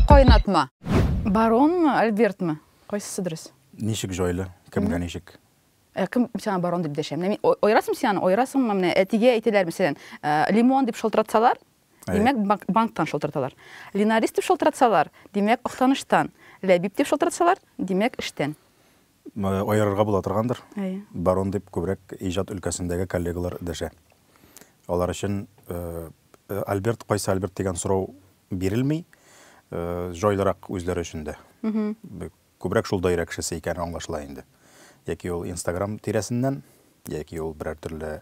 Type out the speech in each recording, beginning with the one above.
Кайнатма. Баронмы, Альбертмы? Кайсысы дөрес? Ничек җайлы? Кемгә ничек? Э, кем сиңа барон дип дәшә? Менә мин ойрасым сиңа, ойрасыңмы? Менә әтигә әйтәләр, мәсәлән, э, лимон дип шалтыратсалар, димәк, банктан шалтыраталар. Линарис дип шалтыратсалар, димәк, Актаныштан. Ләбиб дип шалтыратсалар, димәк, эштән. Аерырга була торгандыр. Әйе. Барон дип күбрәк иҗат өлкәсендәге коллегалар дәшә. Алар өчен Альберт кайсы Альберт дигән сорау бирелми, җайлырак үзләре өчен дә. Күбрәк шул даирә кешесе икәне аңлашыла инде. Яки ул Инстаграм тирәсеннән, яки ул берәр төрле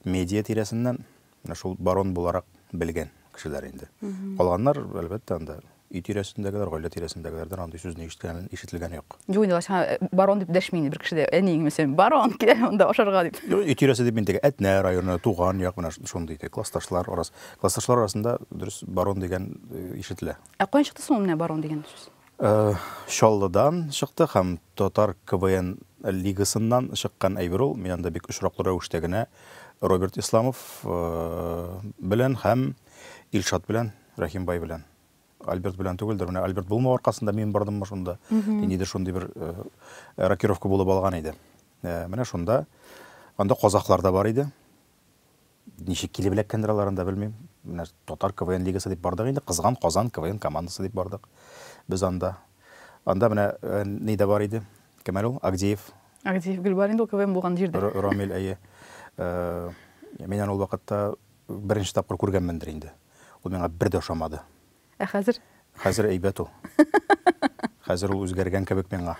медиа тирәсеннән, Менә шул барон буларак белгән кешеләр инде. Калганнар, әлбәттә, анда өй тирәсендәгеләр, гаилә тирәсендәгеләрдән андый сүзне ишеткән, ишетелгән юк. Юк инде, лачын барон дип дәшми инде бер кеше дә, әниең, мәсәлән, барон, килә монда ашарга дип. Юк, өй тирәсе дип мин теге Әтнә районы, туган як, менә шундый теге классташлар арасы. Классташлар арасында, дөрес, барон дигән ишетелә. Ә каян чыкты соң ул менә барон дигән сүз? Чаллыдан чыктык һәм татар КВН лигасыннан чыккан әйбер ул. Мин анда бик очраклы рәвештә генә Роберт Исламов белән һәм Илшат белән, Рәхимбай белән. Альберт белән түгелдер. Менә Альберт булмау аркасында мин бардыммы шунда? Ниндидер шундый бер рокировка булып алган иде. Менә шунда. Анда казахлар да бар иде. Ничек килеп эләккәндер алар анда, белмим. Менә Татар КВН лигасы дип бардык инде, кызган Казан КВН командасы дип бардык без анда. Анда менә э, ни дә бар иде. Кем әле ул? Агдеев. Агдеев Гөлбар инде ул КВН булган җирдә. Рамил, әйе. Э, мин аны ул вакытта беренче тапкыр күргәнмендер инде. Ул миңа бер дә ошамады. Ә хәзер? Хәзер әйбәт ул. Хәзер ул үзгәргән кебек миңа.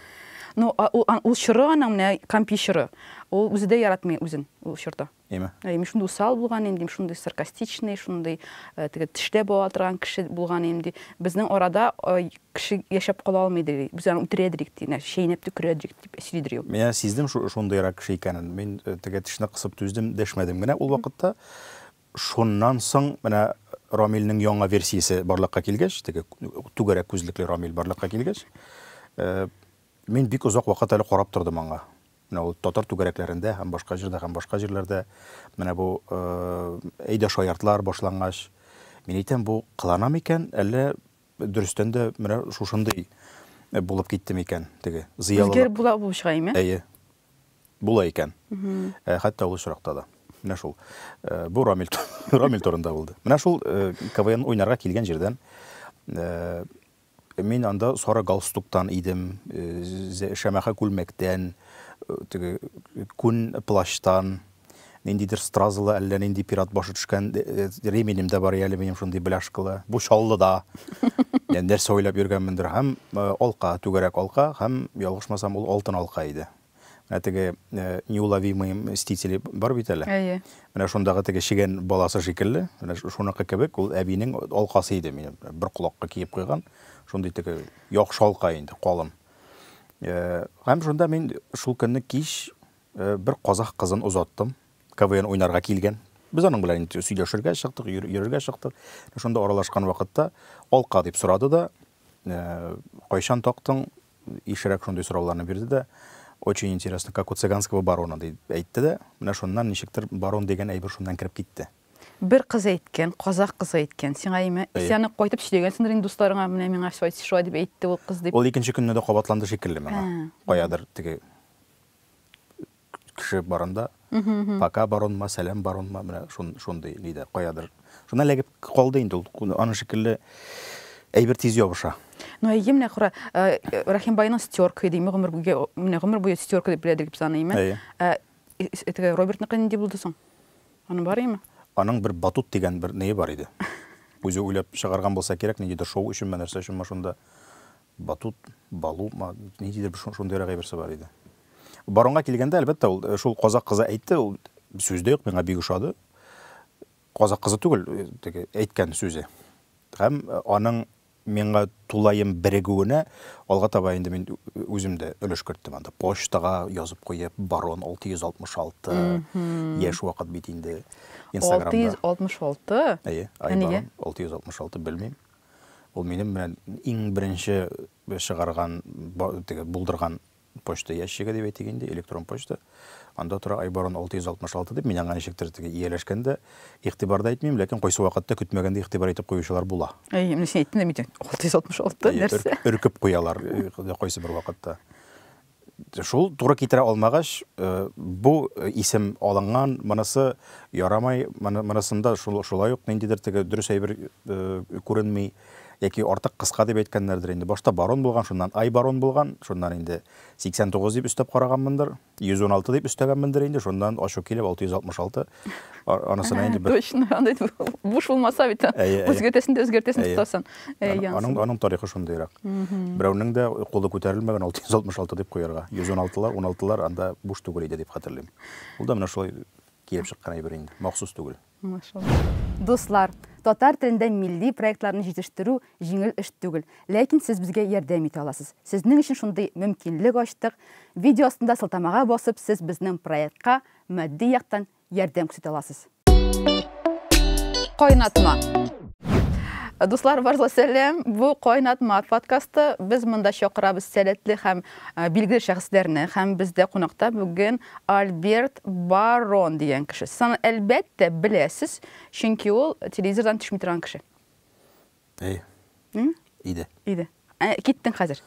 Ну, ул чоры аның менә компи чоры. Ул үзе дә яратмый үзен ул чорда. Әйме? Әйме, шундый усал булган инде, шундый саркастичный, шундый э, теге тиштә була торган кеше булган инде. Безнең арада э, кеше яшәп кала алмый ди. Без аны үтерә дирек ди, чәйнәп төкерә дирек дип сөйли дир ул. Менә сиздем шундыйрак кеше икәнен. Мин э, теге тешне кысып түздем, дәшмәдем генә ул вакытта. Шуннан соң менә Рамилнең яңа версиясе барлыкка килгәч, теге түгәрәк күзлекле Рамил барлыкка килгәч, мин бик озак вакыт әле карап тордым аңа. Менә ул татар түгәрәкләрендә һәм башка җирдә һәм башка җирләрдә менә бу Әйдә шаяртлар башлангач, мин әйтәм, бу кылана микән, әллә дөрестән дә менә шушындый булып китте микән теге зыялылык? Үзгәреп була бу шулаймы? Әйе. була икән. Э, хәтта ул очракта да. Менә шул. Э, бу Рамил, Рамил турында булды. Менә шул э, КВН уйнарга килгән җирдән мин анда сары галстуктан идем, шәмәхә күлмәктән, теге күн плащтан, Ниндидер стразалы, әллә нинди пират башы төшкән реминем дә бар әле минем шундый бляшкалы. Бу чаллыда. Яни нәрсә уйлап йөргәнмендер һәм алка, түгәрәк алка һәм ялгышмасам ул алтын алка иде. Менә теге неуловимые мстители бар бит әле. Әйе. Менә шундагы теге чегән баласы шикелле, менә шуныкы кебек ул әбинең алкасы иде минем. Бер колакка киеп куйган, шундый теге яхшы алка инде, калын. Һәм шунда мин шул көнне кич Бер казах кызын озаттым. КВН уйнарга килгән. Без аның белән инде сөйләшергә чыктык, йөрергә чыктык. Шунда аралашкан вакытта алка дип сорады да, кайчан тактың, ишрәк шундый сорауларны бирде дә, очень интересно, как у цыганского барона, дип әйтте дә, менә шуннан ничектер барон дигән әйбер шуннан кереп китте. Бер кыз әйткән, казах кызы әйткән, сиңа имә, исән үк кайтып сөйләгәнсеңдер инде дусларыңа, менә миңа шулай дип әйтте ул кыз дип. Ул икенче көнне дә кабатланды шикелле миңа, каядыр теге кеше барында пока баронма сәлам баронма менә шундый нидә каядыр шуннан эләгеп калды инде ул аның шикелле әйбер тиз ябыша ну әйе менә кара э, рәхимбайның стерка иде гомер буе менә гомер буе стерка дип беләдер дип саныйм э, э, теге робертныкы нинди булды соң аның бар име аның бер батут дигән бер нее бар иде үзе уйлап чыгарган булса кирәк ниндидер шоу өченме нәрсә өченме шунда Батут, балу, ниндидер бер шундыйрак әйберсе бар иде. Баронга килгәндә, әлбәттә, ул э, шул казак кызы әйтте, ул сүз дә юк, миңа бик ошады. Казак кызы түгел, э, теге әйткән сүзе. Һәм э, аның миңа тулаем берегүенә алга таба инде мин үзем дә өлеш керттем анда. Почтага язып куеп, барон 666 яшь вакыт бит инде. Инстаграмда. 666? Әйе, ай барон 666 белмим. Ул минем белән иң беренче чыгарган, теге булдырган почта ящигы дип әйтик инде, электрон почта. Анда тора Айбарон 666 дип, мин аңа ничектер теге ияләшкәндә игътибарда әйтмим, ләкин кайсы вакытта көтмәгәндә игътибар итеп куючылар була. Әй, менә син әйттең дә митең, 666 нәрсә? Өркеп куялар кайсы бер вакытта. Шул туры китерә алмагач, бу исем алынган, монысы ярамый, монысында шулай ук ниндидер теге дөрес әйбер күренми, яки артык кыска дип әйткәннәрдер инде. Башта Барон булган, шуннан Айбарон булган, шуннан инде 89 дип өстәп караганмындыр, 116 дип өстәгәнмендер инде, шуннан ачу килеп 666. Анысына инде бер... Точно, анда буш булмаса бит, үзгәртәсен дә үзгәртәсен тотасың. Аның, аның тарихы шундыйрак. Берәүнең дә кулы күтәрелмәгән 666 дип куярга. 116лар, 16лар анда буш түгел иде дип хәтерлим. Ул да менә шулай килеп чыккан әйбер инде, махсус түгел. Машалла. Дуслар, татар телендә милли проектларны җитештерү җиңел эш түгел, ләкин сез безгә ярдәм итә аласыз. Сезнең өчен шундый мөмкинлек ачтык. Видео астында сылтамага басып, сез безнең проектка Матди яктан ярдәм күрсәтә аласыз. Кайнатма. Дуслар, барза сәлам. Бу Кайнатма подкасты. Без монда чакырабыз сәләтле һәм билгеле шәхесләрне. Һәм бездә кунакта бүген Альберт Барон дигән кеше. Сез аны әлбәттә беләсез, чөнки ул телевизордан төшми торган кеше. Әйе. М? Иде. Иде. Ә, киттең хәзер.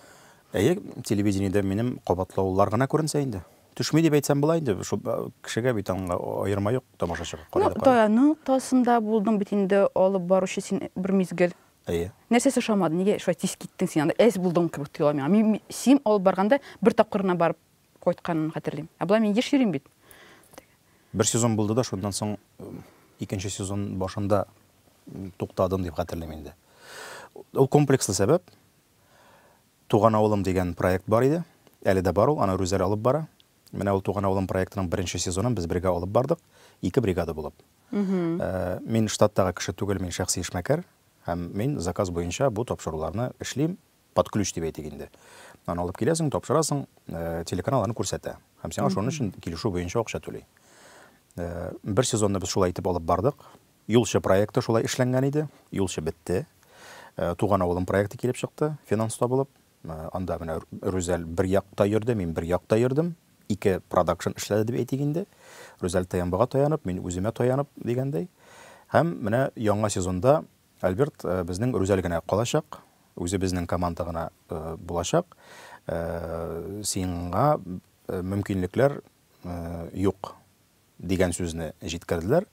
Әйе, телевидениедә минем кабатлаулар гына күренсә инде. Төшми дип әйтсәм була инде, шул э, кешегә бит аңга аерма юк тамашачыга. Ну, Карады, карады. Таяның тасында булдың бит инде алып баручы син бер мизгел. Әйе. Нәрсәсе ошамады? Нигә шулай тиз киттең син анда? Әз булдың кебек тоела миңа. Мин, мин- син алып барганда бер тапкыр гына барып кайтканын хәтерлим. Ә болай мин еш йөрим бит. Бер сезон булды да, шуннан соң икенче сезон башында туктадым дип хәтерлим инде. Ул комплекслы сәбәп. Туган авылым дигән проект бар иде. Әле дә бар ул, аны Рүзәл алып бара. Менә ул Туган авылым проектының беренче сезонын без бергә алып бардык, ике бригада булып. Э, мин штаттагы кеше түгел, мин шәхси эшмәкәр һәм мин заказ буенча бу тапшыруларны эшлим, под ключ дип әйтик инде. Аны алып киләсең, тапшырасың, э, телеканал аны күрсәтә. Һәм сиңа шуның өчен килешү буенча акча түли. Э, бер сезонны без шулай итеп алып бардык. Юлчы проекты шулай эшләнгән иде. Юлчы бетте. Э, Туган авылым проекты килеп чыкты, финанс табылып. Э, Анда менә Рүзәл бер якта йөрде, мин бер якта йөрдем. Ике продакшн эшләде дип әйтик инде. Рүзәл ТМБга таянып, мин үземә таянып дигәндәй. Һәм менә яңа сезонда Альберт безнең Рүзәл генә калачак, үзе безнең команда гына булачак. Сиңа мөмкинлекләр юк дигән сүзне җиткерделәр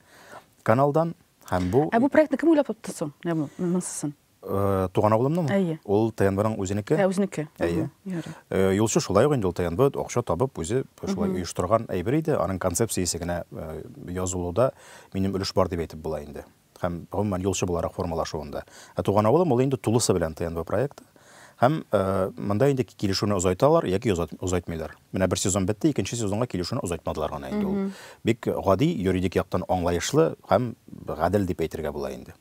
каналдан һәм бу Ә бу проектны кем уйлап тапты соң? Ягъни монсысын. Э, туган авылымның әйе ул тнбның үзенеке ә үзенеке әйе э, юлчы шулай ук инде ул тнб акча табып үзе шулай оештырган әйбер иде аның концепциясе генә э, язылуда минем өлеш бар дип әйтеп була инде һәм, гомумән, юлчы буларак формалашуында. Ә Туган авылым, ул инде тулысы белән ТНВ проекты. Һәм монда инде килешүне озайталар яки озайтмыйлар. Менә бер сезон бетте, икенче сезонга килешүне озайтмадылар гына инде ул. Бик гади, юридик яктан аңлаешлы һәм гадел дип әйтергә була инде.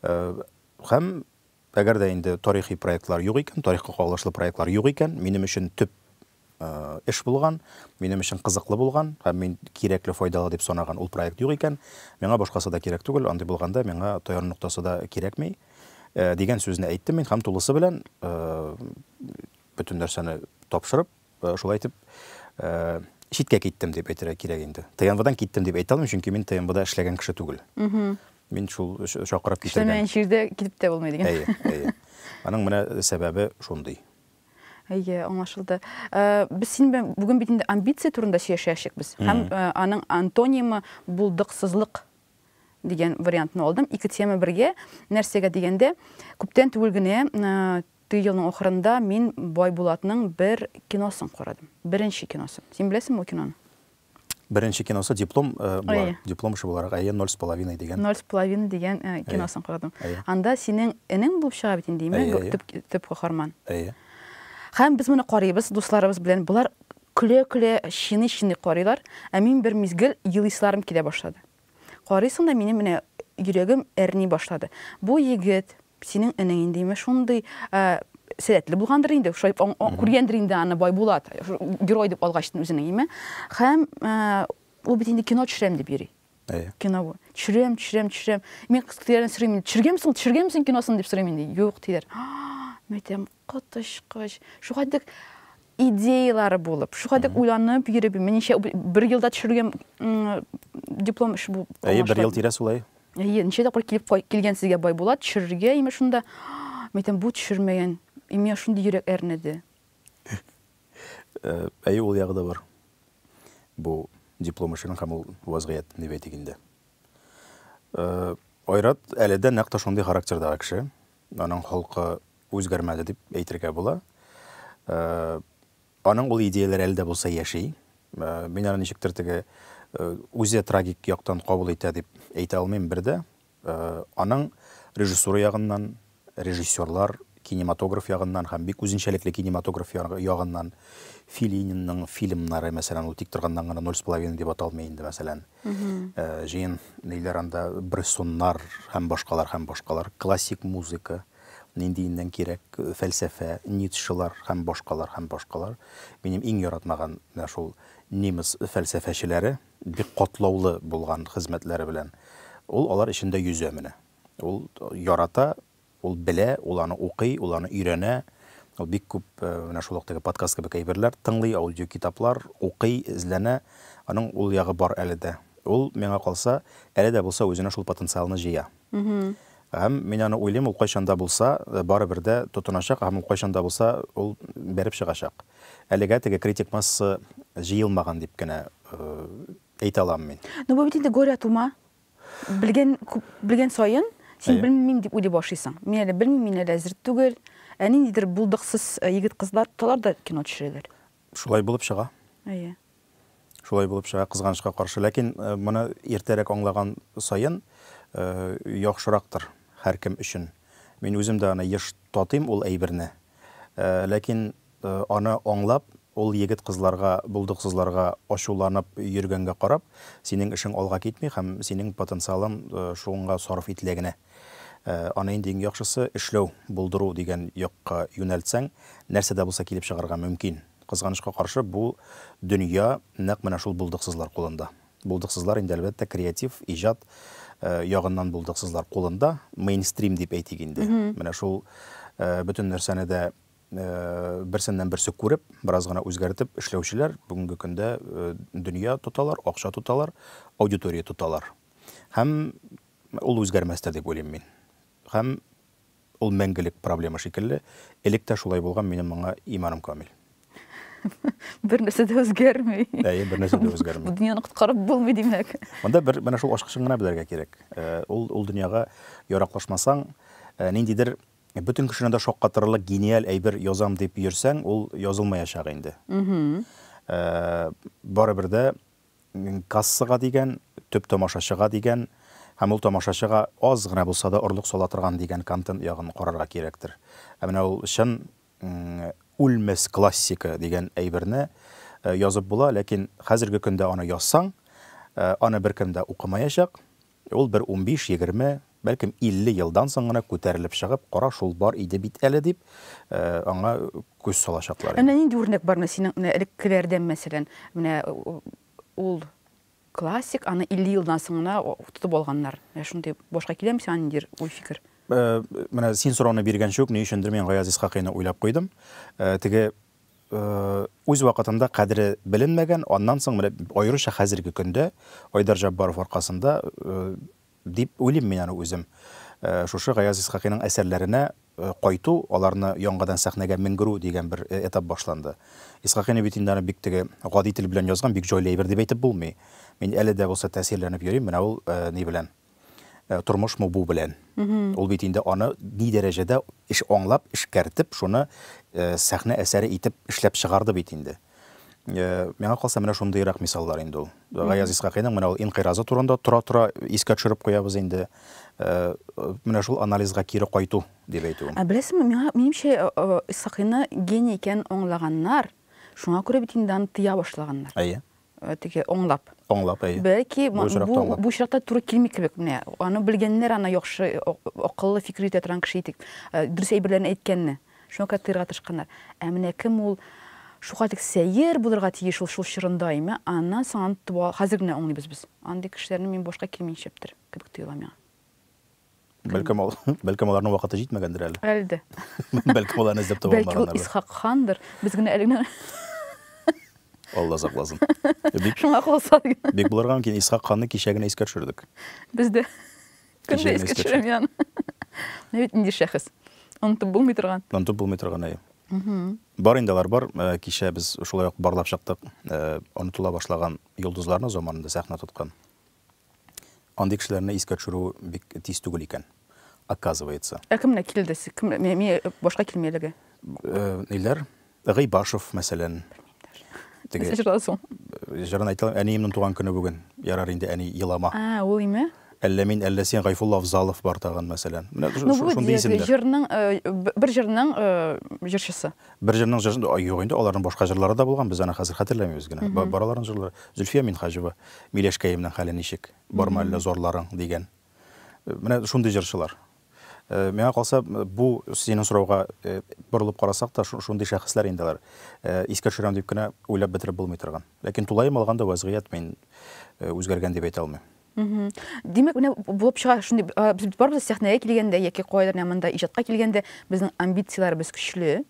Һәм, әгәр дә инде тарихи проектлар юк икән, тарихка кагылышлы проектлар юк икән, минем өчен төп эш булган, минем өчен кызыклы булган һәм мин кирәкле, файдалы дип санаган ул проект юк икән, миңа башкасы да кирәк түгел, андый булганда миңа таяну ноктасы да кирәкми, дигән сүзне әйттем мин һәм тулысы белән бөтен нәрсәне тапшырып, шулай итеп, читкә киттем дип әйтергә кирәк инде. ТНВдан киттем дип әйтә алмыйм, чөнки мин ТНВда эшләгән кеше түгел. Мин шул чакырып китергән. Эшләмәгән җирдә китеп тә булмый дигән. Әйе, әйе. Аның менә сәбәбе шундый. Әйе, аңлашылды. Э, без синең белән бүген бит инде амбиция турында сөйләшәчәк без. Һәм э, аның антонимы булдыксызлык дигән вариантны алдым. Ике тема бергә. Нәрсәгә дигәндә, күптән түгел генә э, теге елның ахырында мин Байбулатның бер киносын карадым. Беренче киносын. Син беләсеңме ул киноны? Беренче киносы диплом булар, диплом эше буларак, әйе, ноль с половиной дигән. Ноль с половиной дигән киносын карадым. Анда синең энең булып чыга бит инде, имеш, төп каһарман. Әйе. Һәм без моны карыйбыз дусларыбыз белән. Болар көлә-көлә, чиный-чиный карыйлар, ә мин бер мизгел елыйсыларым килә башлады. Карыйсың да минем менә йөрәгем әрни башлады. Бу егет, синең энең инде име шундый сәләтле булгандыр инде, шулай күргәндер инде аны Байбулат, герой дип алгач үзенең име. Һәм ул бит инде кино төшерәм дип йөри. Әйе. Кино бу. Төшерәм, төшерәм, төшерәм. Мин кыз китерәләрен сорыйм инде. Төшергәнме соң, төшергәнме соң киносын дип сорыйм инде. Юк, диләр. Мәйтәм, Коточкыч. Шулай дек идеялары булып, шулай дек уйланып йөреп, минемчә, бер елда төшерүгә диплом эше бу. Әйе, бер ел тирәсе улай. Әйе, ничә тапкыр килеп килгән сезгә Байбулат төшерергә, имеш шунда. Мәйтәм, бу төшермәгән. Имя шундый йөрәк әрнеде. Әйе, ул ягы да бар. Бу диплом эшенең һәм ул вазгыять, дип әйтик инде. Айрат әле дә нәкъ тә шундый характердагы кеше. Аның холкы үзгәрмәде дип әйтергә була. Аның ул идеяләре әле дә булса яши. Мин аны ничектер теге үзе трагик яктан кабул итә дип әйтә алмыйм бер дә. Аның режиссура ягыннан, режиссерлар, кинематограф ягыннан һәм бик үзенчәлекле кинематограф ягыннан Филининның фильмнары, мәсәлән, ул тик торганнан гына ноль с половиной дип аталмый инде, мәсәлән. Җыен ниләр анда Брессоннар һәм башкалар һәм башкалар, классик музыка, ниндиеннән кирәк, фәлсәфә, Ницшелар һәм башкалар һәм башкалар. Минем иң яратмаган менә шул немец фәлсәфәчеләре, бик катлаулы булган хезмәтләре белән. Ул алар эчендә йөзә менә. Ул ярата, Ул белә, ул аны укый, ул аны өйрәнә. Ул бик күп менә шул вакыттагы подкаст кебек әйберләр тыңлый, аудиокитаплар укый, эзләнә. Аның ул ягы бар әле дә. Ул, миңа калса, әле дә булса үзенә шул потенциалны җыя. Һәм мин аны уйлыйм, ул кайчан да булса, барыбер дә тотыначак һәм ул кайчан да булса ул бәреп чыгачак. Әлегә теге критик масса җыелмаган дип кенә әйтә алам мин. Ну бу бит инде горя от ума. Белгән, күп, белгән саен, син белмим дип уйлый башлыйсың. Мин әле белмим, мин әле әзер түгел. Ә ниндидер булдыксыз э, егет-кызлар тоталар да кино төшерәләр. Шулай булып чыга. Әйе. Шулай булып чыга, кызганычка каршы. Ләкин э, моны иртәрәк аңлаган саен э, яхшырактыр һәркем өчен. Мин үзем дә аны еш татыйм ул әйберне. Э, ләкин э, аны аңлап, Ул егет-кызларга, булдыксызларга ачуланып йөргәнгә карап, синең эшең алга китми һәм синең потенциалың шуңа сарыф ителә генә. Аны инде иң яхшысы, эшләү, булдыру дигән якка юнәлтсәң, нәрсә дә булса килеп чыгарга мөмкин. Кызганычка каршы, бу дөнья нәкъ менә шул булдыксызлар кулында. Булдыксызлар инде, әлбәттә, креатив, иҗат ягыннан булдыксызлар кулында, мейнстрим дип әйтик инде. Менә шул бөтен нәрсәне дә берсеннән-берсе күреп, бераз гына үзгәртеп эшләүчеләр бүгенге көндә дөнья тоталар, акча тоталар, аудитория тоталар. Һәм ул үзгәрмәс тә дип уйлыйм мин. Һәм ул мәңгелек проблема шикелле. Элек тә шулай булган, минем моңа иманым камил. Бернәрсә дә үзгәрми. Әйе, бернәрсә дә үзгәрми. Дөньяны коткарып булмый, димәк. Монда бер менә шул ачкычын гына белергә кирәк. Ул ул дөньяга яраклашмасаң, ниндидер Бөтен кешене дә шаккатырырлык гениаль әйбер язам дип йөрсәң, ул язылмаячак инде. Барыбер дә кассага дигән, төп тамашачыга дигән һәм ул тамашачыга аз гына булса да орлык сала торган дигән контент ягын карарга кирәктер. Ә менә ул чын үлмәс классика дигән әйберне язып була, ләкин хәзерге көндә аны язсаң, аны беркем дә укымаячак. Ул бер унбиш, егерме, бәлкем, илле елдан соң гына күтәрелеп чыгып, кара шул бар иде бит әле дип, аңа күз салачаклар инде. Менә нинди үрнәк бар менә синең менә элеккеләрдән, мәсәлән, менә ул классик, аны илле елдан соң гына тотып алганнар. Менә шундый башка киләме сиңа ниндидер уй-фикер? Менә син сорауны биргәнче үк, ни өчендер мин Гаяз Исхакыйны уйлап куйдым. Теге үз вакытында кадере беленмәгән, аннан соң менә аеруча хәзерге көндә Айдар Җаббаров аркасында дип уйлыйм мин аны үзем. Шушы Гаяз Исхакыйның әсәрләренә кайту, аларны яңадан сәхнәгә менгерү дигән бер этап башланды. Исхакыйны бит инде аны бик теге гади тел белән язган, бик җайлы әйбер дип әйтеп булмый. Мин әле дә булса тәэсирләнеп йөрим, менә ул ни белән. тормышмы бу белән. Ул бит инде аны ни дәрәҗәдә эш аңлап, эшкәртеп, шуны сәхнә әсәре итеп эшләп чыгарды бит инде. Миңа калса, менә шундыйрак мисаллар инде ул. Гаяз Исхакыйның менә ул инкыйразы турында тора-тора искә төшереп куябыз инде. Менә шул анализга кире кайту дип әйтүем. Ә беләсеңме, миңа, минемчә, Исхакыйны гений икәнен аңлаганнар, шуңа күрә бит инде аны тыя башлаганнар. Әйе. теге аңлап. Аңлап, әйе. Бәлки бу очракта аңлап. Бу очракта туры килми кебек. Менә аны белгәннәр, аны яхшы акыллы фикер йөртә торган кеше итик. Дөрес әйберләрне әйткәнне. Шуңа күрә тыярга тырышканнар. Ә менә кем ул? Шуңа тик сәер булырга тиеш ул шул чорында име? Аннан соң аны хәзер генә аңлыйбыз без. Андый кешеләрне мин башка килми нишләптер кебек тоела миңа. Бәлкем, ал, бәлкем аларның вакыты җитмәгәндер әле. Әлде. бәлкем аларны эзләп таба алмаганнар. Бәлкем Исхак хандыр. Без генә әле генә Алла сакласын. Бик шуңа калса диген. Бик булырга мөмкин. Исхак ханны кичә генә искә төшердек. Без дә көндә искә төшерәм яны. Менә бит нинди шәхес. Онытып булмый торган. Онытып булмый торган, әйе. Бар инде алар бар. Э, кичә без шулай ук барлап чыктык. Э, онытыла башлаган йолдызларны заманында сәхнә тоткан. Андый кешеләрне искә төшерү бик тиз түгел икән, оказывается. Ә кемнәр килде? Кем, миңа башка килми әлеге. Э, ниләр? Гыйбашев, мәсәлән. Теге. Җырдан соң. Җырын әйтә, әниемнең туган көне бүген. Ярар инде, әни, елама. А, ул име? Әллә мин, әллә син Гайфулла Авзалов бар тагын, мәсәлән. Менә ну, шундый исемнәр. Җырның, э, бер җырның э, җырчысы. Бер җырның җырын да юк инде, аларның башка җырлары да булган, без аны хәзер хәтерләмибез генә. Ба- Бар аларның җырлары. Зөлфия Минһаҗева, Миләшкәемнең хәле ничек, бармы әллә зарларың, дигән. Э, Менә шундый җырчылар. Э, Миңа калса, э, бу синең сорауга э, борылып карасак та, шу- шундый шәхесләр инде алар. Э, Искә төшерәм дип кенә уйлап бетереп булмый торган. Ләкин тулаем алганда вәзгыять мин э, үзгәргән дип әйтә алмыйм. Димәк, менә булып чыга шундый без барыбыз сәхнәгә килгәндә яки кайдыр менә монда иҗатка килгәндә безнең амбицияләребез көчле.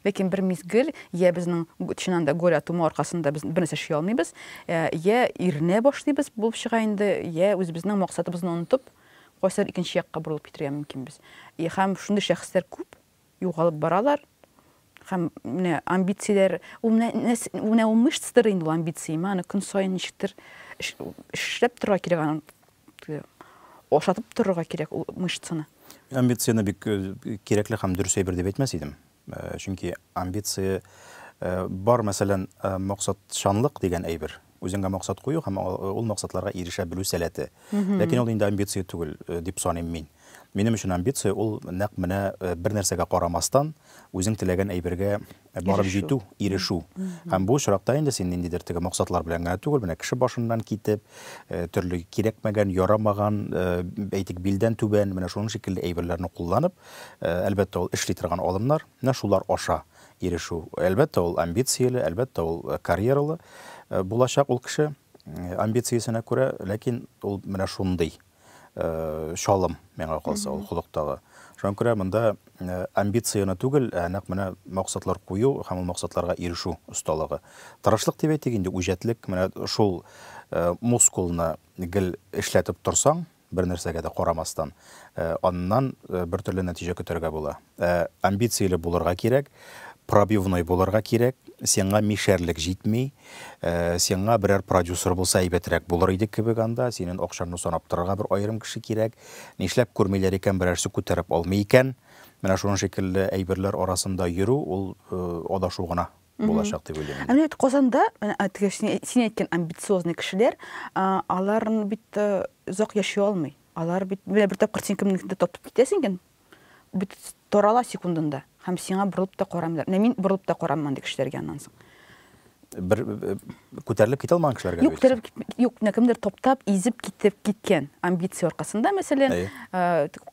Ләкин бер мизгел я безнең чыннан да голь атуы аркасында без бер нәрсә эшли алмыйбыз, я иренә башлыйбыз булып чыга инде, я үзебезнең максатыбызны онытып, кайсыдыр икенче якка борылып китәргә мөмкинбез. И һәм шундый шәхесләр күп. югалып баралар һәм менә амбицияләр ул менә менә ул мышцадыр инде ул амбиция ма аны көн саен ничектер эшләп торырга кирәк аны ашатып торырга кирәк ул мышцаны амбицияне бик э, кирәкле һәм дөрес әйбер дип әйтмәс идем э, чөнки амбиция э, бар мәсәлән максатчанлык дигән әйбер Үзеңә максат кую һәм ул максатларга ирешә белү сәләте. Ләкин ул инде амбиция түгел, дип саныйм мин. Минем өчен амбиция ул нәкъ менә бер нәрсәгә карамастан, үзең теләгән әйбергә барып җитү, ирешү. Һәм бу очракта инде син ниндидер теге максатлар белән генә түгел, менә кеше башыннан китеп, төрле кирәкмәгән, ярамаган, әйтик, билдән түбән, менә шуның шикелле әйберләрне кулланып, әлбәттә, ул эшли торган алымнар, менә шулар аша ирешү. Әлбәттә, ул амбицияле, әлбәттә, ул карьералы булачак ул кеше, амбициясенә күрә, ләкин ул менә шундый чалым, миңа калса, ул холыктагы. Шуңа күрә монда амбицияне түгел, ә нәкъ менә максатлар кую һәм ул максатларга ирешү осталыгы. Тырышлык дип әйтик инде, үҗәтлек, менә шул мускулны гел эшләтеп торсаң, Бернәрсәгә дә карамастан, аннан бертөрле нәтиҗә көтәргә була. Ә амбицияле булырга кирәк, пробивной булырга кирәк, сиңа мишәрлек җитми, сиңа берәр продюсер булса әйбәтрәк булыр иде кебек анда, синен акчаңны санап торырга бер аерым кеше кирәк, нишләп күрмиләр икән, берәрсе күтәреп алмый икән, менә шуның шикелле әйберләр арасында йөрү, ул адашу гына. булачак дип уйлыйм. Ә менә Казанда, теге син әйткән амбициозный кешеләр, алар бит озак яши алмый. Алар бит менә бер тапкыр син кемнеңдер тотып китәсең икән, бит торала секундында һәм сиңа борылып та карамыйлар. Менә мин борылып та карамман ди кешеләргә аннан соң. Бер күтәрелеп китә алмаган кешеләргә Юк, күтәрелеп кит, юк, менә кемдер топтап, изеп китеп киткән амбиция аркасында, мәсәлән,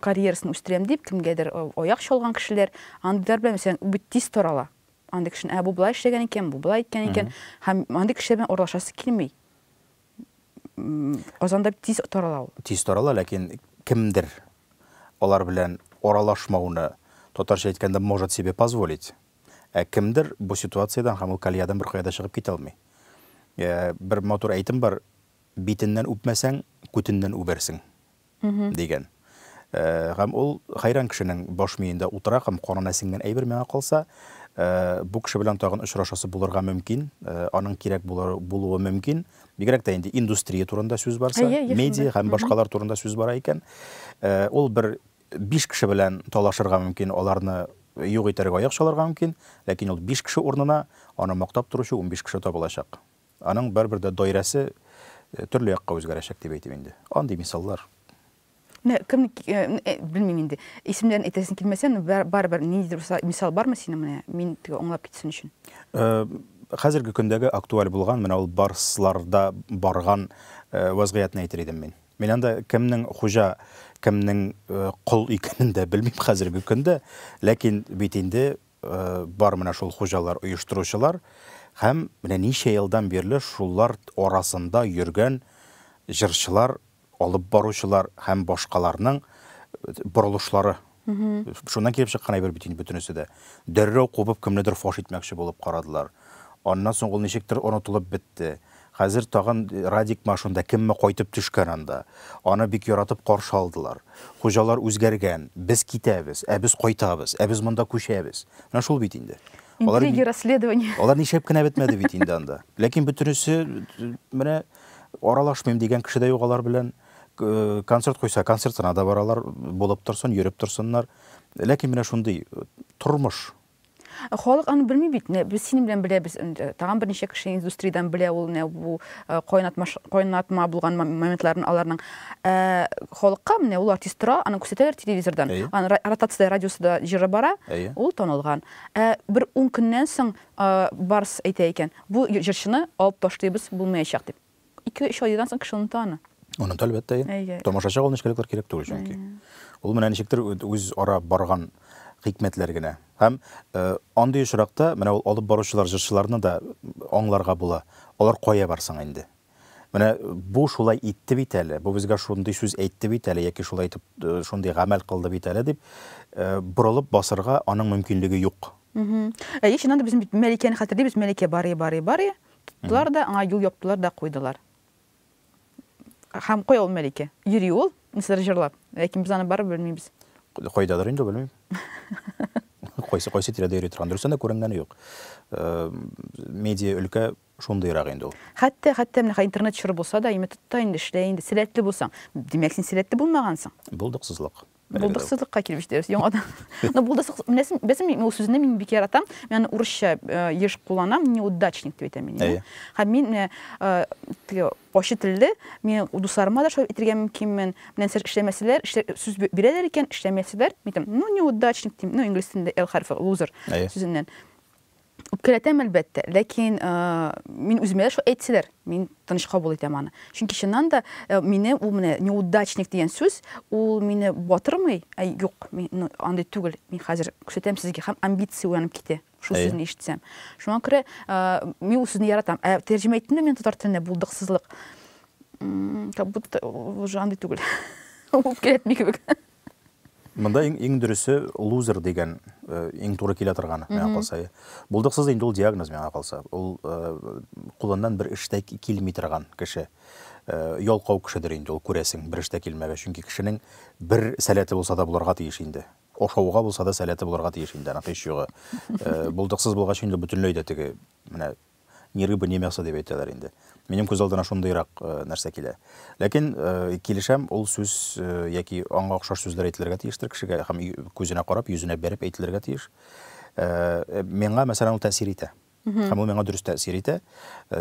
карьерасын үстерәм дип, кемгәдер аяк чалган кешеләр, андыйлар белән, мәсәлән, бит тиз торала. Андый кешене, ә бу болай эшләгән икән, бу болай иткән икән. Һәм андый кешеләр белән аралашасы килми. Казанда тиз тарала ул. Тиз тарала, ләкин кемдер алар белән аралашмауны, татарча әйткәндә, может себе позволить. Ә кемдер бу ситуациядән һәм ул колеядан беркая да чыгып китә алмый. Бер матур әйтем бар, битеннән үпмәсәң, күтеннән үбәрсең. дигән. Гам ул хәйран кешенең баш миендә утыра гам канына сеңгән әйбер миңа калса, бу кеше белән тагын очрашасы булырга мөмкин, аның кирәк булыр булуы мөмкин, бигрәк тә инде индустрия турында сүз барса, медиа гам башкалар турында сүз бара икән, ул бер биш кеше белән талашырга мөмкин, аларны юк итәргә аяк чалырга мөмкин, ләкин ул биш кеше урынына аны мактап торучы унбиш кеше табылачак. Аның барыбер дә даирәсе төрле якка үзгәрәчәк дип әйтим инде. Андый мисаллар. Менә кем, белмим инде. Исемнәрен әйтәсең килмәсә, ну барыбер ниндидер мисал бармы синең менә, мин теге аңлап китсен өчен? Хәзерге көндәге актуаль булган менә ул барсларда барган вазгыятьне әйтер идем мин. Мин анда кемнең хуҗа, кемнең кол икәнен дә белмим хәзерге көндә, ләкин бит инде Бар менә шул хуҗалар, оештыручылар һәм менә ничә елдан бирле шулар арасында йөргән җырчылар, алып баручылар һәм башкаларның борылышлары. Шуннан килеп чыккан әйбер бит инде бөтенесе дә. Дәррәү кубып кемнедер фаш итмәкче булып карадылар. Аннан соң ул ничектер онытылып бетте. Хәзер тагын Радикмы ошында, кемме кайтып төшкән анда. Аны бик яратып каршы алдылар. Хуҗалар үзгәргән, без китәбез, ә без кайтабыз, ә без монда күчәбез. Менә шул бит инде. Интриги, расследование. Алар нишләп кенә бетмәде бит инде анда. Ләкин бөтенесе, менә аралашмыйм дигән кеше дә юк алар белән. Концерт куйса, концертына да баралар, булып торсын, йөреп торсыннар. Ләкин менә шундый тормыш. Халык аны белми бит. Менә без синең белән беләбез. Тагын берничә кеше индустриядән белә ул менә бу э, кайнатма кайнатма булган моментларын аларның. Э, халыкка менә ул артист тора, аны күрсәтәләр телевизордан. Аны ротация радиосында җыры бара, ул танылган. Ә бер 10 көннән соң э, Барс әйтә икән, бу җырчыны алып ташлыйбыз, булмаячак дип. Ике-өч аердан соң кеше оныта аны. Оныта, әлбәттә. Әйе. Тамашачыга ул нечкәлекләр кирәк түгел чөнки. Ул менә ничектер үз ара барган хикмәтләр генә. Һәм андый очракта менә ул алып баручылар, җырчыларны да аңларга була. Алар кая бар соң инде? Менә бу шулай итте бит әле, бу безгә шундый сүз әйтте бит әле, яки шулай итеп шундый гамәл кылды бит әле дип, борылып басырга аның мөмкинлеге юк. Әйе, чыннан да без бит Мәликәне хәтерлибез, Мәликә барый-барый-барый. Тукталар да, аңа юл яптылар да куйдылар. Һәм кая ул Мәликә? Йөри ул, нәрсәдер җырлап, ләкин без аны барыбер белмибез. Кайдадыр инде, белмим. Кайсы кайсы тирәдә йөри торган. Дөрестән дә күренгәне юк. Э, медиа өлкә шундыйрак инде ул. Хәтта хәтта менә интернет чоры булса да, имә тотта инде эшлә инде, сәләтле булсаң. Димәк, син сәләтле булмагансың. Булдыксызлык. Булдыксызлыкка килеп җитәбез яңадан. Но булдыксыз, беләсең, беләсең, мин ул сүзне мин бик яратам. Мин урысча э, еш кулланам, неудачник дип әйтәм мин. Әйе. Һәм мин э, э, теге ачы телле, мин дусларыма да шулай әйтергә мөмкинмен. Менә нәрсә эшләмәсәләр, эшлә, сүз бе- бирәләр икән, эшләмәсәләр, мин әйтәм, ну неудачник дим, ну инглиз телендә L хәрфе, loser Әйе. сүзеннән. Үпкәләтәм, әлбәттә, ләкин э, мин үземә дә шулай әйтсәләр, мин тыныч кабул итәм аны. Чөнки чыннан да э, мине ул менә неудачник дигән сүз, ул мине батырмый, ә юк, мин ну, андый түгел. Мин хәзер күрсәтәм сезгә һәм амбиция уянып китә. Шул Әйе. сүзне ишетсәм. Шуңа күрә э, мин ул сүзне яратам. Ә тәрҗемә иттем дә мин татар теленә булдыксызлык. М, Как будто уже андый түгел. Үпкәләтми кебек. Монда иң, иң дөресе лузер дигән э, иң туры килә торганы миңа калса. Булдыксыз инде ул диагноз миңа калса. Ул э, кулыннан бер эштә килми торган кеше. Э, ялкау кешедер инде ул күрәсең, бер эштә килмәгән. Чөнки кешенең бер сәләте булса да булырга тиеш инде. Ашауга булса да сәләте булырга тиеш инде, аның һич югы. Э, булдыксыз булгач инде бөтенләй дә теге менә Ни рыба, ни мясо дип әйтәләр инде. Минем күз алдына шундыйрак э, нәрсә килә. Ләкин э, килешәм, ул сүз э, яки аңа охшаш сүзләр әйтелергә тиештер кешегә һәм күзенә карап, йөзенә бәреп әйтелергә тиеш. Миңа, мәсәлән, ул тәэсир итә. Һәм ул миңа дөрес тәэсир итә.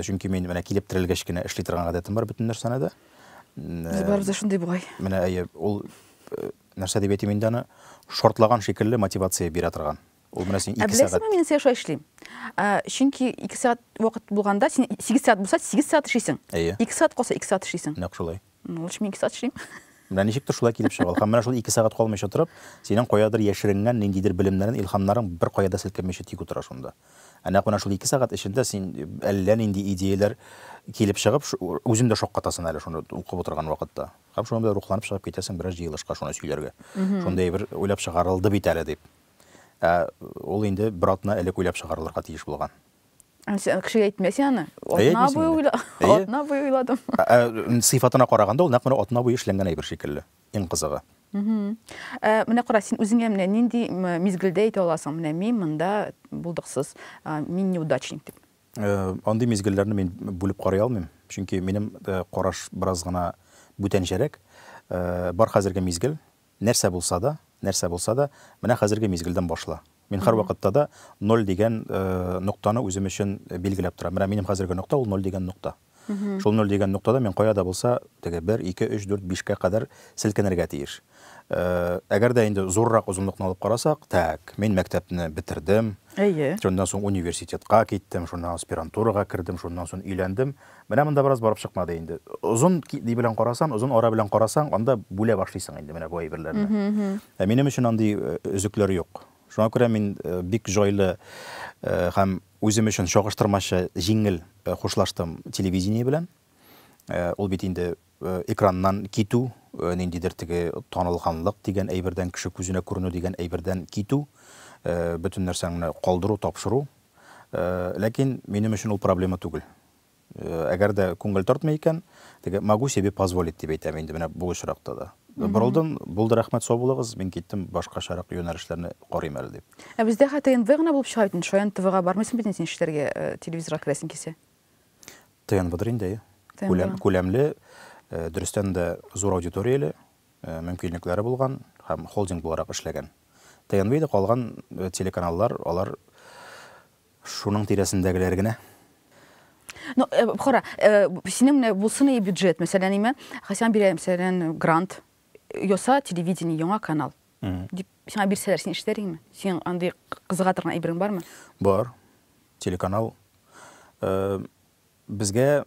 Чөнки мин менә килеп терелгәч кенә эшли торган гадәтем бар бөтен нәрсәне дә. Без барыбыз да шундый бугай. Менә әйе, ул нәрсә дип әйтим инде аны, шортлаган шикелле мотивация бирә торган. Ул менә син 2 сәгать. Ә беләсеңме, мин нәрсә аша эшлим? Чөнки 2 сәгать вакыт булганда, син 8 сәгать булса, 8 сәгать эшлисең. 2 сәгать калса, 2 сәгать эшлисең. Нәкъ шулай. Ну, лучше мин 2 сәгать эшлим. Менә ничектер шулай килеп чыга ул. Һәм менә шул 2 сәгать калмыйча торып, синең каядыр яшеренгән ниндидер белемнәрең, илһамнарың беркая да селкенмичә тик утыра шунда. Ә нәкъ менә шул 2 сәгать эчендә син әллә нинди идеяләр килеп чыгып, үзең дә шаккатасың әле шуны укып утырган вакытта. Һәм шунда рухланып чыгып китәсең бераз җыелышка шуны сөйләргә. Шундай бер уйлап чыгарылды бит әле дип. Ә ул инде бер атна элек уйлап чыгарылырга тиеш булган. Сен кешегә әйтмәсең аны. Атна буе уйла, атна буе уйладым. Сыйфатына караганда, ул нәкъ менә атна буе эшләнгән әйбер шикелле. Иң кызыгы. Менә кара, син үзеңә менә нинди мизгелдә әйтә аласың, менә мин монда булдыксыз, мин неудачник дип? Андый мизгелләрне мин бүлеп карый алмыйм, чөнки минем караш бераз гына бүтәнчәрәк. Бар хәзерге мизгел, Нәрсә булса да, нәрсә булса да, менә хәзерге мизгелдән башла. Мин һәрвакытта да ноль дигән ноктаны үзем өчен билгеләп торам. Менә минем хәзерге нокта ул ноль дигән нокта. Шул ноль дигән ноктада мин кая да булса, теге бер, ике, өч, дүрт, бишкә кадәр селкенергә тиеш. Әгәр дә инде зуррак озынлыкны алып карасак, так, мин мәктәпне бетердем. Әйе. Шуннан соң университетка киттем, шуннан аспирантурага кердем, шуннан соң өйләндем. Менә монда бераз барып чыкмады инде. Озын ки белән карасаң, озын ара белән карасаң, анда бүлә башлыйсың инде менә бу әйберләрне. Ә минем өчен андый өзекләр юк. Шуңа күрә мин бик җайлы һәм үзем өчен чагыштырмача җиңел хушлаштым телевидение белән. Ул бит инде Экраннан китү, ниндидер теге танылганлык дигән әйбердән, кеше күзенә күренү дигән әйбердән китү, бөтен нәрсәңне калдыру, тапшыру. Ләкин минем өчен ул проблема түгел. Әгәр дә күңел тартмый икән, теге могу себе позволить дип әйтәм инде менә бу очракта да. Борылдым, булды, рәхмәт, сау булыгыз, мин киттем, башкачарак юнәлешләрне карыйм әле дип. Ә бездә хәтта НВ гына булып чыга бит инде, шаян ТВга бармыйсың бит инде син эшләргә, телевизорга керәсең килсә. ТНВдыр инде, әйе. ТНВ. Күләмле, дөрестән дә зур аудиторияле, мөмкинлекләре булган һәм холдинг буларак эшләгән. ТНВ иде, калган телеканаллар, алар шуның тирәсендәгеләр генә. Ну, кара, синең менә булсын иде бюджет, мәсәлән, әйме, Хәсән Бирәев, мәсәлән, грант яса, телевидение, яңа канал. Дип, сиңа бирсәләр, син эшләр идеңме? Синең андый кызыга торган әйберең бармы? Бар. Телеканал э, безгә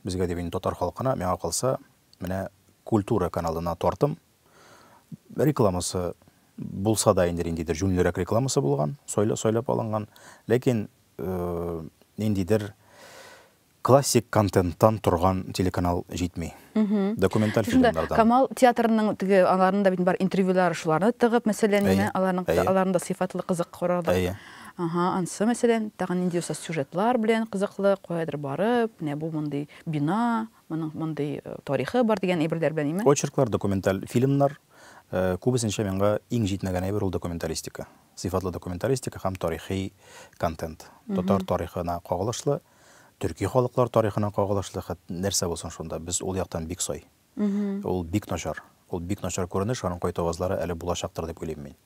безгә дип инде татар халкына, миңа калса, менә культура каналына тартым. Рекламасы булса да инде ниндидер җүнлерәк рекламасы булган, сойлап алынган. Ләкин э, ниндидер Классик контенттан торган телеканал җитми. Документаль фильмнардан. Камал театрының теге аларның да бит бар интервьюлары шуларны тыгып мәсәлән менә аларның аларның да сыйфатлы кызык карарлык. Әйе. Ага, ансы мәсәлән тагын нинди булса сюжетлар белән кызыклы каядыр барып, менә бу мондый бина, моның мондый тарихы бар дигән әйберләр белән име? Очерклар, документаль фильмнар, күбесенчә миңа иң җитмәгән әйбер ул документалистика. Сыйфатлы документалистика һәм тарихи контент. Татар тарихына кагылышлы, Төрки халыклар тарихына кагылышлы хәт нәрсә булсын шунда? Без ул яктан бик сай. Ул бик начар. Ул бик начар күренеш, аның кайтавазлары әле булачактыр дип уйлыйм мин.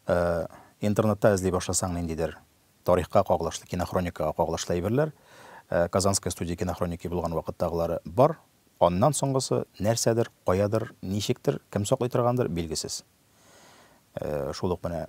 Э, интернетта эзли башласаң ниндидер тарихка кагылышлы, кинохроникага кагылышлы әйберләр, э, Казанская студия кинохроники булган вакыттагылары бар. Аннан соңгысы нәрсәдер, каядыр, ничектер, кем саклый торгандыр, билгесез. Э, шул ук менә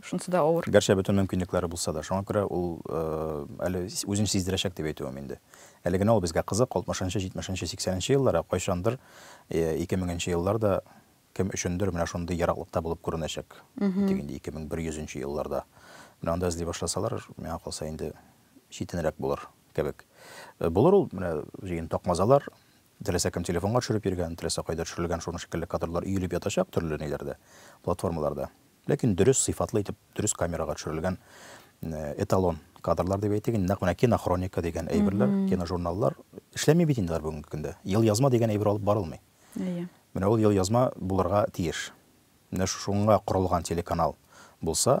Шунысы да авыр. Гәрчә бөтен мөмкинлекләре булса да. Шуңа күрә ул әле үзен сиздерәчәк дип әйтүем инде. Әле генә ул безгә кызык, алтмышынчы, җитмешенче, сиксәненче еллар, ә кайчандыр, ике меңенче еллар да кем өчендер менә шундый ераклыкта булып күренәчәк. Тик инде ике мең бер йөзенче елларда менә анда эзли башласалар, миңа калса, инде читенрәк булыр кебек. Булыр ул менә җыен такмазалар, Теләсә кем телефонга төшереп йөргән, теләсә кайда төшерелгән шуның шикелле кадрлар өелеп ятачак төрле ниләрдә, платформаларда. Ләкин дөрес, сыйфатлы итеп, дөрес камерага төшерелгән эталон кадрлар дип әйтик инде, нәкъ менә кинохроника дигән әйберләр, киножурналлар эшләми бит инде алар бүгенге көндә. Елъязма дигән әйбер алып барылмый. Әйе. Менә ул елъязма булырга тиеш. Менә шуңа корылган телеканал булса,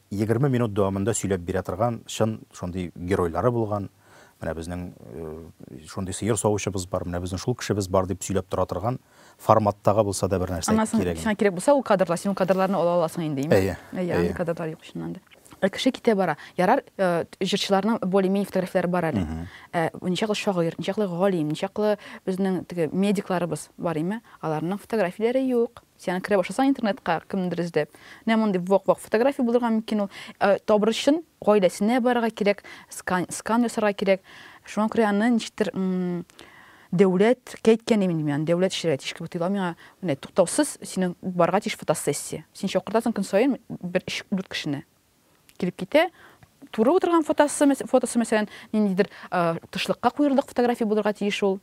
Егерме минут дәвамында сөйләп бирә торган, чын шундый геройлары булган, менә безнең шундый сыер савучыбыз бар, менә безнең шул кешебез бар дип сөйләп тора торган форматтагы булса да бер нәрсә кирәк. Аннан соң кирәк булса ул кадрлар, син ул кадрларны ала аласың инде, имеш. Әйе. Әйе, андый кадрлар юк чыннан да. Ә кеше китә бара. Ярар, җырчыларның более-менее фотографияләре бар әле. Ә ничаклы шагыйрь, ничаклы галим, ничаклы безнең теге медикларыбыз бар, име? Аларның фотографияләре юк. Син аны керә башласаң интернетка, кемнедер эзләп, менә мондый вак-вак фотография булырга мөмкин ул. Ә табыр өчен гаиләсенә барырга кирәк, скан, скан ясарга кирәк. Шуңа күрә аны ничектер дәүләт кәйткән имин мин, дәүләт эшләргә тиеш кебек тоела миңа. Менә туктаусыз синең барырга тиеш фотосессия. Син чакыртасың көн саен бер өч дүрт кешене. килеп китә. Туры утырган фотосы, фотосы мәсәлән, ниндидер э, тышлыкка куерлык фотография булырга тиеш ул.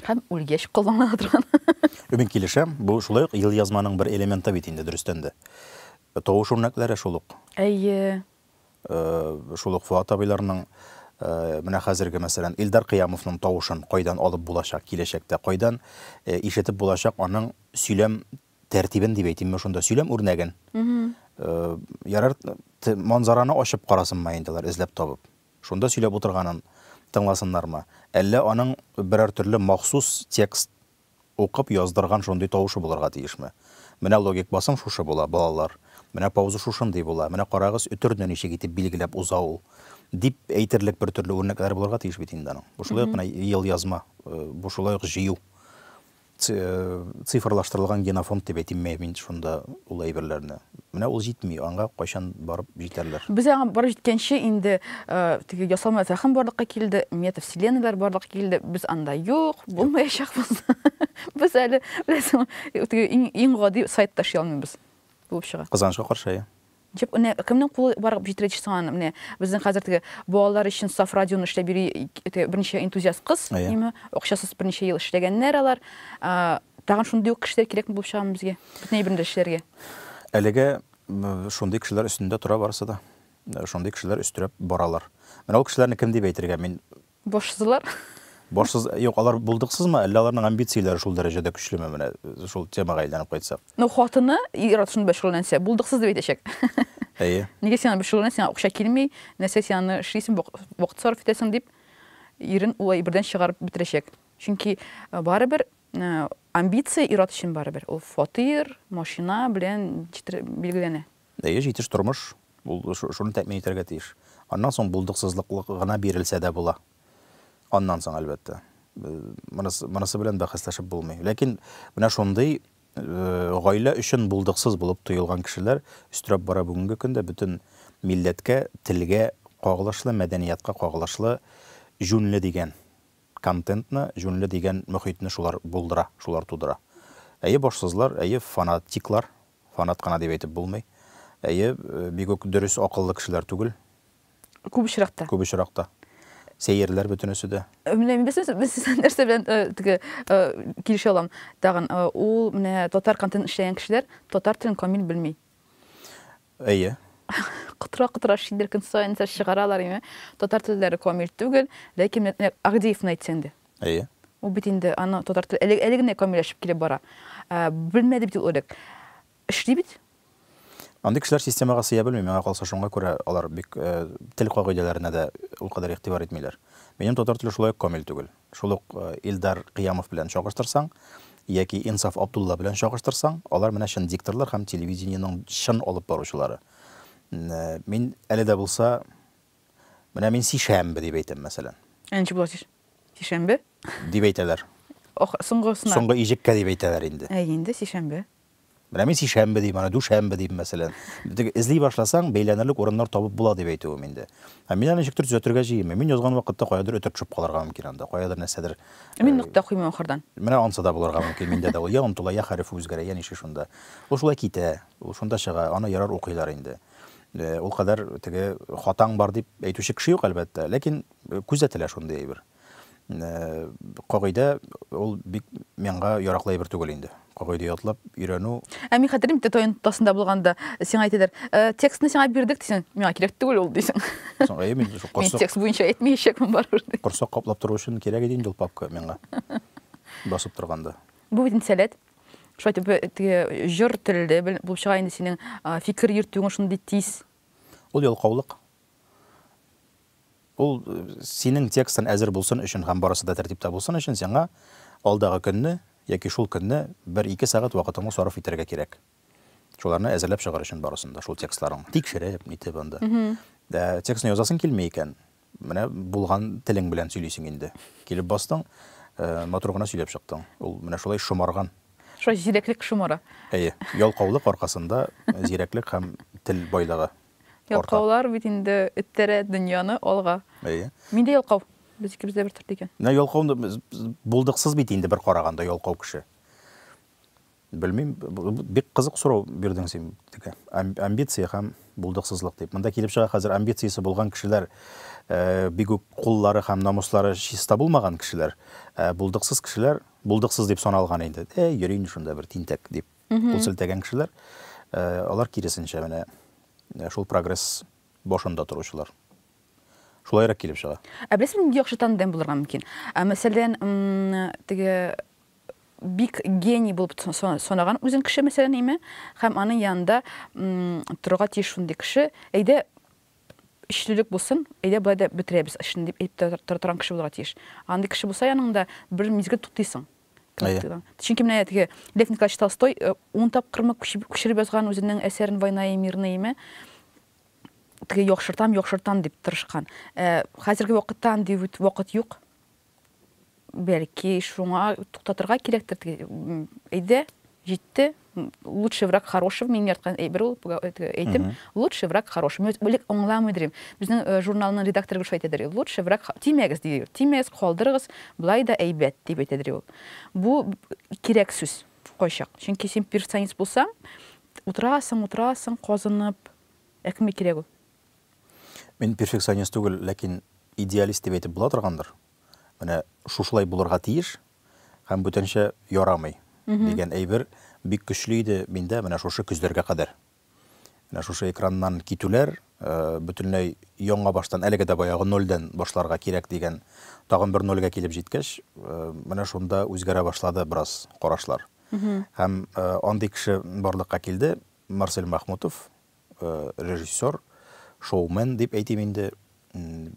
Һәм үлгәч куллана торган. Өмет килешәм, бу шулай ук ел язманың бер элементы бит инде дөрестән дә. Тавыш үрнәкләре шул ук. Әйе. Э, шул ук Фуат абыйларның э, менә хәзерге мәсәлән Илдар Кыямовның тавышын кайдан алып булачак киләчәктә, кайдан ишетеп булачак аның сөйләм тәртибен дип әйтимме шунда, сөйләм үрнәген. Ярар, манзараны ачып карасынмы инде алар, эзләп табып. Шунда сөйләп утырганын тыңласыннармы? Әллә аның берәр төрле махсус текст укып яздырган шундый тавышы булырга тиешме? Менә логик басым шушы була, балалар. Менә пауза шушындый була. Менә карагыз, өтерне ничек итеп билгеләп уза ул. Дип әйтерлек бер төрле үрнәкләре булырга тиеш бит инде аның. Бу шулай ук менә ел язма, бу шулай ук җыю. Цифрлаштырылган генофонд дип әйтимме мин шунда ул әйберләрне? Менә ул җитми, аңа кайчан барып җитәрләр? Без аңа барып җиткәнче инде теге ясалма зәхем барлыкка килде, метавселеннойлар барлыкка килде, без анда юк, булмаячакбыз. Без әле, беләсеңме, теге иң гади сайт ташый алмыйбыз булып чыга. Кызганычка каршы, әйе. Дип, менә кемнең кулы барып җиткеч соң аны, менә безнең хәзер теге балалар өчен саф радионы эшләп йөри теге берничә энтузиаст кыз, димме, акчасыз берничә ел эшләгәннәр алар. Тагын шундый ук кешеләр кирәкме булып чыгамы безгә, бөтен әйберне дә эшләргә? Әлегә шундый кешеләр өстендә тора барысы да. Шундый кешеләр өстерәп баралар. Менә ул кешеләрне кем дип әйтергә, мин Башсызлар. Башсыз, юк, алар булдыксызмы, әллә аларның амбицияләре шул дәрәҗәдә көчлеме, менә шул темага әйләнеп кайтсак? Ну, хатыны ир-ат шуның белән шөгыльләнсә, булдыксыз дип әйтәчәк. Әйе. Нигә син аның белән шөгыльләнәсең, сиңа акча килми, нәрсә син аны эшлисең, вакыт сарыф итәсең, дип, ирен ул әйбердән чыгарып бетерәчәк. Чөнки барыбер амбиция ир-ат өчен барыбер ул фатир, машина белән ничектер билгеләнә. Әйе, җитеш тормыш, ул шуны тәэмин итәргә тиеш. Аннан соң булдыксызлык гына бирелсә дә була. Аннан соң, әлбәттә. Монысы белән бәхәсләшеп булмый. Ләкин менә шундый гаилә өчен булдыксыз булып тоелган кешеләр өстерәп бара бүгенге көндә бөтен милләткә, телгә кагылышлы, мәдәниятка кагылышлы җүнле дигән контентны, җүнле дигән мөхитне шулар булдыра, шулар тудыра. Әйе, башсызлар, әйе, фанатиклар, Фанат кына дип әйтеп булмый. Әйе, бик үк дөрес, акыллы кешеләр түгел. Күп очракта. Күп очракта. Сәерләр бөтенесе дә. Менә мин сезнең нәрсә белән теге килешә алам. Тагын ул менә татар контент эшләгән кешеләр татар телен камил белми. Әйе. Котыра котыра шидер көн саен нәрсә чыгаралар име. Татар телләре камил түгел, ләкин Агдеевны әйтсәң дә. Әйе. Ул бит инде, аны татар теле әле, әле генә камилләшеп килеп бара. Ә, белмәде бит ул элек. Эшли бит? Андый кешеләр системага сыя белми, миңа калса, шуңа күрә алар бик э, тел кагыйдәләренә дә ул кадәр игътибар итмиләр. Минем татар теле шулай ук камил түгел. Шул ук э, Илдар Кыямов белән чагыштырсаң, яки Инсаф Абдулла белән чагыштырсаң, алар менә чын дикторлар һәм телевидениенең чын алып баручылары. М, э, Мин әле дә булса Менә мин сишәмбе дип әйтәм, мәсәлән. Ә ничек була сиш? Сишәмбе? Дип әйтәләр. Ох, соңгысына. Соңгы иҗеккә дип әйтәләр инде. Әй, инде сишәмбе. Менә мин сишәмбе дим, аны дүшәмбе дим, мәсәлән. Битек эзли башласаң, бәйләнерлек урыннар табып була дип әйтүем инде. Ә мин аны ничектер төзәтергә җыенмыйм. Мин язган вакытта каядыр өтә төшеп калырга мөмкин анда, каядыр нәрсәдер. Ә мин э, нокта куймыйм ахырдан. Менә ансы да булырга мөмкин миндә дә. Ул я онтыла, я хәреф үзгәрә, я нише шунда. Ул шулай китә, ул шунда чыга, аны ярар укыйлар инде. Ул кадәр теге хатаң бар дип әйтүче кеше юк, әлбәттә, ләкин күзәтелә шундый әйбер. Кагыйдә ул бик миңа яраклы әйбер түгел инде. Кагыйдә ятлап өйрәнү. Ә мин хәтерлим, тә таян тасында булганда сиңа әйтәләр, текстны сиңа бирдек дисең, миңа кирәк түгел ул дисең. Соң әйе мин шул корсак. Мин текст буенча әйтмәячәкмен барыбер ди. Корсак каплап тору өчен кирәк иде инде ул папка миңа. Басып торганда. Бу бит инде сәләт. Шулай итеп э, теге җыр телде булып чыга инде синең а, фикер йөртүең шундый тиз. Ул ялкаулык. Ул э, синең текстың әзер булсын өчен һәм барысы да тәртиптә булсын өчен сиңа алдагы көнне яки шул көнне бер ике сәгать вакытыңны сарыф итәргә кирәк. Шуларны әзерләп чыгар өчен барысын да, шул текстларың. Тикшереп, нитеп анда. Ә, Текстны язасың килми икән, Менә булган телең белән сөйлисең инде. Килеп бастың, матур гына сөйләп чыктың. Ул менә шулай шомарган. Шулай зирәклек шомара. Әйе. Ялкаулык аркасында зирәклек һәм тел байлыгы арта. Ялкаулар бит инде эттерә дөньяны алга. Әйе. Мин дә ялкау. Без икебез дә бер төрле икән. Менә ялкау, булдыксыз бит инде бер караганда ялкау кеше. Белмим, бик кызык сорау бирдең син, Текә. Амбиция һәм булдыксызлык дип. Монда килеп чыга, хәзер амбициясе булган кешеләр бик үк куллары һәм намуслары чиста булмаган кешеләр, ә булдыксыз кешеләр булдыксыз дип саналган инде. Ә йөри инде шунда бер тинтәк дип кул селтәгән кешеләр, алар киресенчә менә шул прогресс башында торучылар. Шулайрак килеп чыга. Ә беләсең, нинди яхшы тандем булырга мөмкин? Мәсәлән, теге бик гений булып санаган үзен кеше мәсәлән име һәм аның янында торырга тиеш шундый кеше әйдә эшлелек булсын әйдә болай да бетерәбез эшне дип әйтеп тора торган кеше булырга тиеш андый кеше булса яныңда бер мизгел туктыйсың чөнки менә теге лев николаевич толстой э, ун тапкырмы күчереп язган үзенең әсәрен война и мирный име теге яхшыртам яхшыртам дип тырышкан э, хәзерге вакытта андый вакыт юк Бәлки, шуңа туктатырга кирәктер теге, м, әйдә, җитте, м, лучший враг хорошего, минем яраткан әйбер ул, бу, э, теге әйтем, лучший враг хорошего. Мин элек аңламый идем. Безнең э, журналның редакторы гел шулай әйтәдер, ул, лучший враг, х- тимәгез, ди, тимәгез, калдырыгыз, болай да әйбәт, дип әйтәдер ул. Бу кирәк сүз кайчак. Чөнки син перфекционист булсаң, утырасың, утырасың, казынып, ә кемгә кирәк ул? Мин перфекционист түгел, ләкин идеалист дип әйтеп була торгандыр. Менә шушылай булырга тиеш һәм бүтәнчә ярамый дигән әйбер бик көчле иде миндә менә шушы көзләргә кадәр. Менә шушы экраннан китүләр, э, бөтенләй яңа баштан, әлеге дә баягы нольдән башларга кирәк дигән тагын бер нольгә килеп җиткәч, э, менә шунда үзгәрә башлады бераз карашлар. Һәм э, андый кеше барлыкка килде, Марсель Махмутов, режиссер, шоумен дип әйтим инде,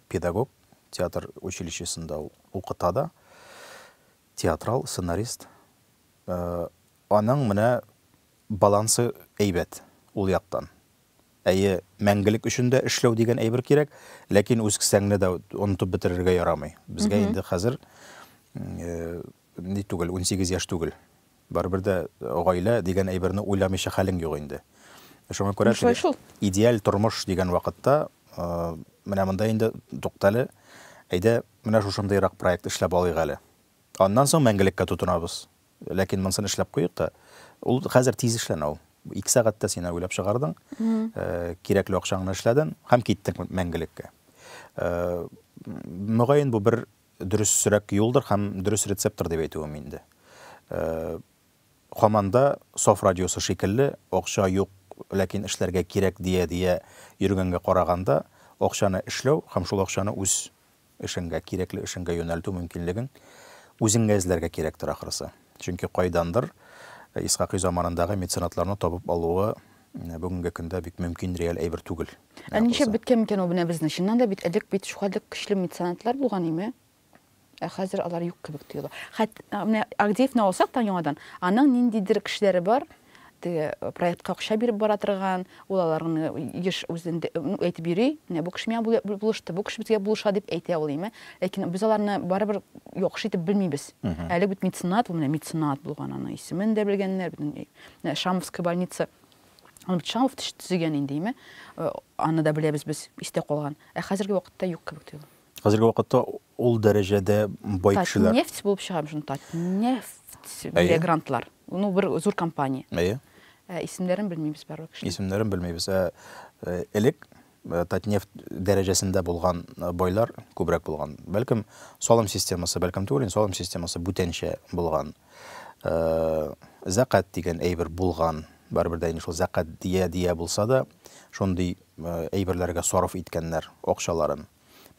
педагог, театр училищесында ул укыта да, театрал, сценарист. Аның менә балансы әйбәт ул яктан. Әйе, мәңгелек өчен дә эшләү дигән әйбер кирәк, ләкин үз кесәңне дә онытып бетерергә ярамый. Безгә инде хәзер ни түгел, унсигез яшь түгел. Барыбер дә гаилә дигән әйберне уйламыйча хәлең юк инде. Шуңа күрә теге идеаль тормыш дигән вакытта менә монда инде туктале, әйдә, менә шушындыйрак проект эшләп алыйк әле. Аннан соң мәңгелеккә тотынабыз. Ләкин монсын эшләп куйыйк та. Ул хәзер тиз эшләнә ул. Ике сәгатьтә син уйлап чыгардың, кирәкле акчаңны эшләдең һәм киттең мәңгелеккә. Мөгаен бу бер Дөресрәк юлдыр һәм дөрес рецепттыр дип әйтүем инде. Һаман да Саф радиосы шикелле, акча юк, ләкин эшләргә кирәк дия-дия йөргәнгә караганда, акчаны эшләү һәм шул акчаны үз эшеңгә, кирәкле эшеңгә юнәлтү мөмкинлеген үзеңә эзләргә кирәктер, ахрысы. Чөнки кайдандыр Исхакый заманындагы меценатларны табып алуы бүгенге көндә бик мөмкин, реаль әйбер түгел. Ә нишләп беткән микән ул менә безнең? Чыннан да бит элек бит шулай көчле меценатлар булган име? Ә хәзер алар юк кебек тоела. Хәт менә Агдеевны алсак та яңадан, аның ниндидер кешеләре бар, теге э, проектка акча биреп бара торган, ул аларны еш үзендә ну, әйтеп йөри, менә бу кеше миңа булышты, бу кеше безгә булыша дип әйтә ул име. Ләкин без аларны барыбер яхшы итеп белмибез. Әле бит меценат, ул менә меценат булган, аның исемен дә белгәннәр, безнең э, Шамовская больница Аны бит Шамов төзегән инде, име? Э, аны да беләбез без, истә калган. Ә хәзерге вакытта юк кебек тоела. Хәзерге вакытта ул дәрәҗәдә бай кешеләр. Татнефть булып чыга шуны Татнефть бирә грантлар. Ну, бер зур компания. Әйе. Ә исемнәрен белмибез барлык кешеләр. Исемнәрен белмибез. Ә э, элек Татнефть дәрәҗәсендә булган байлар күбрәк булган. Бәлкем, салым системасы, бәлкем түгел, салым системасы бүтәнчә булган. Зәкәт дигән әйбер булган. Барыбер дә инде шул зәкәт дия-дия булса да, шундый әйберләргә сарыф иткәннәр акчаларын.